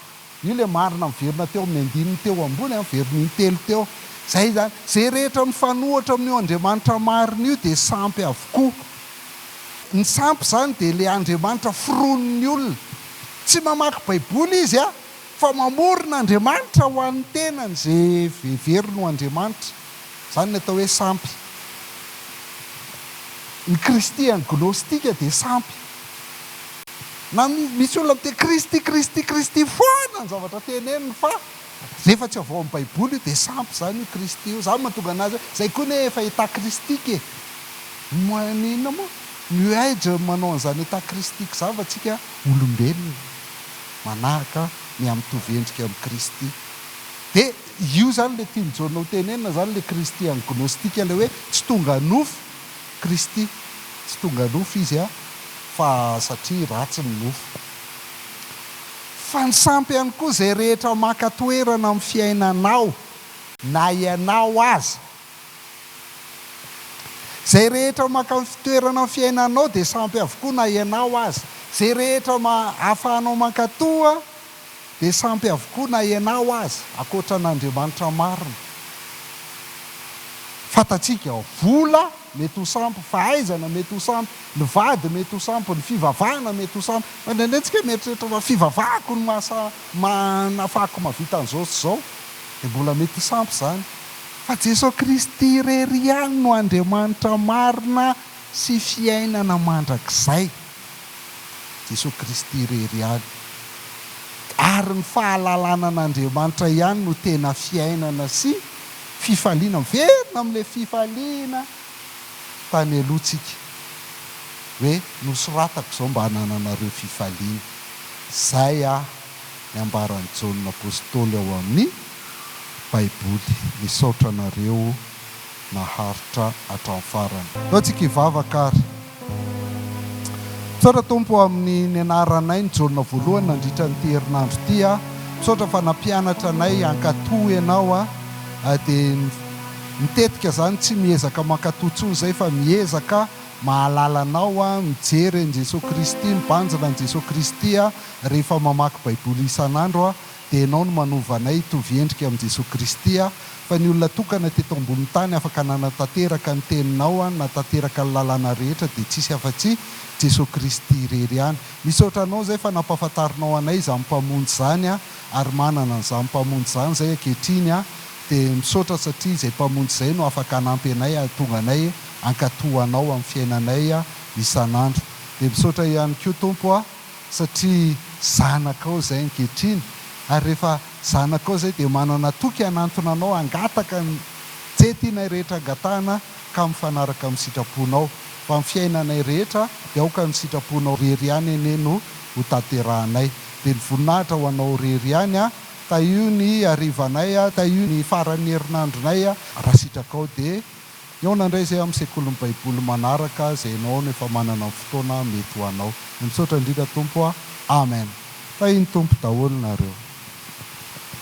Io ilay marina miverina teo amin'ny andininy teo ambony, veriny intelo teo. Izay izany. Izay rehetra mifanohitra amin'io Andriamanitra marina io dia sampy avokoa. Ny sampy izany dia ilay Andriamanitra foronin'ny olona. Tsy mamaky Baiboly izy an! Fa mamorona andriamanitra ho an'ny tenany izay heveriny ho andriamanitra. Izany ny atao hoe sampy. Ny kristian gnostika dia sampy. Na misy olona miteny kristy kristy kristy foana ny zavatra teneniny fa rehefa tsy avy ao amin'ny baiboly io dia sampy izany io kristy io. Izany mahatonga anazy hoe izay koa anie efa état christique e. Moa ny inona moa? New age manao an'izany état christique izany fa tsika olombelona. manahaka ny amin' ny mitovy endrika amin' i Kristy. Dia io izany ilay tian'i Jaona hotenenina izany, ilay Kristy an'ny Gnôstika, ilay hoe tsy tonga nofo Kristy. Tsy tonga nofo Izy an, fa satria ratsy ny nofo. Fa ny sampy ihany koa izay rehetra maka toerana amin'ny fiainanao, na ianao aza. Zay rehetra mankany fitoerana ny fiainanao dia sampy avokoa na ianao aza. Zay rehetra afahanao mankato dia sampy avokoa na ianao aza, ankoatra an'Andriamanitra marina. Fantatsika ao, vola mety ho sampy, fahaizana mety ho sampy, ny vady mety ho sampy, ny fivavahana mety ho sampy. Fa indraindray tsika mieritreritra fa fivavahako no maha nafahako mahavita an'izao sy izao. Dia mbola mety sampy izany. Fa Jesoa Kristy irery ihany no Andriamanitra marina sy fiainana mandrakizay. Jesoa Kristy irery ihany. Ary ny fahalalana an'Andriamanitra ihany no tena fiainana sy fifaliana. Miverina amin'ilay fifaliana tany aloha tsika. Hoe nosoratako izao mba hanananareo fifaliana. Izay aho. ny ambaran'i Jaona Apostoly ao amin'ny Baiboly. Misaotra anareo naharitra hatramin'ny farany. Aleo tsika hivavaka ary. Misaotra Tompo o amin'ny nianaranay ny Jaona voalohany nandritra an'ity herinandro ity aho. Misaotra fa nampianatra anay hankatò Ianao aho. Dia ny tetika izany tsy miezaka mankatò intsony izay fa miezaka. Mahalala anao aho, mijery an'i Jesoa Kristy, mibanjina an'i Jesoa Kristy aho rehefa mamaky Baiboly isan'andro aho, dia Ianao no manova anay hitovy endrika amin'i Jesoa Kristy aho. Fa ny olona tokana teto ambonin'ny tany afaka nanatanteraka ny Teninao, nanatanteraka ny lalàna rehetra, dia tsy hisy afa-tsy Jesoa Kristy irery ihany. Misaotra Anao izay fa nampahafantarinao anay izany Mpamonjy izany aho, ary manana an'izany Mpamonjy izany izay ankehitriny aho, Dia misaotra satria izay Mpamonjy izay no afaka hanampy anay hahatonga anay hankato Anao amin'ny fiainanay isan'andro. Dia misaotra ihany koa Tompo aho satria zanakao izay ankehitriny ary rehefa zanakao izay dia manana toky hanantona Anao hangataka izay tianay rehetra hangatahana ka mifanaraka amin'ny sitraponao. Fa ny fiainanay rehetra dia aoka ny sitraponao irery ihany anie no hotanterahanay. Dia ny voninahitra ho Anao irery ihany. Tahio ny harivanay, tahio ny faran'ny herinandronay, raha sitrakao dia mihaona indray izay amin'ny sekolin'ny baiboly manaraka izay ianao no efa manana ny fotoana mety ho anao. Misaotra indrindra Tompo a. Amen. Tahin'ny Tompo daholo nareo.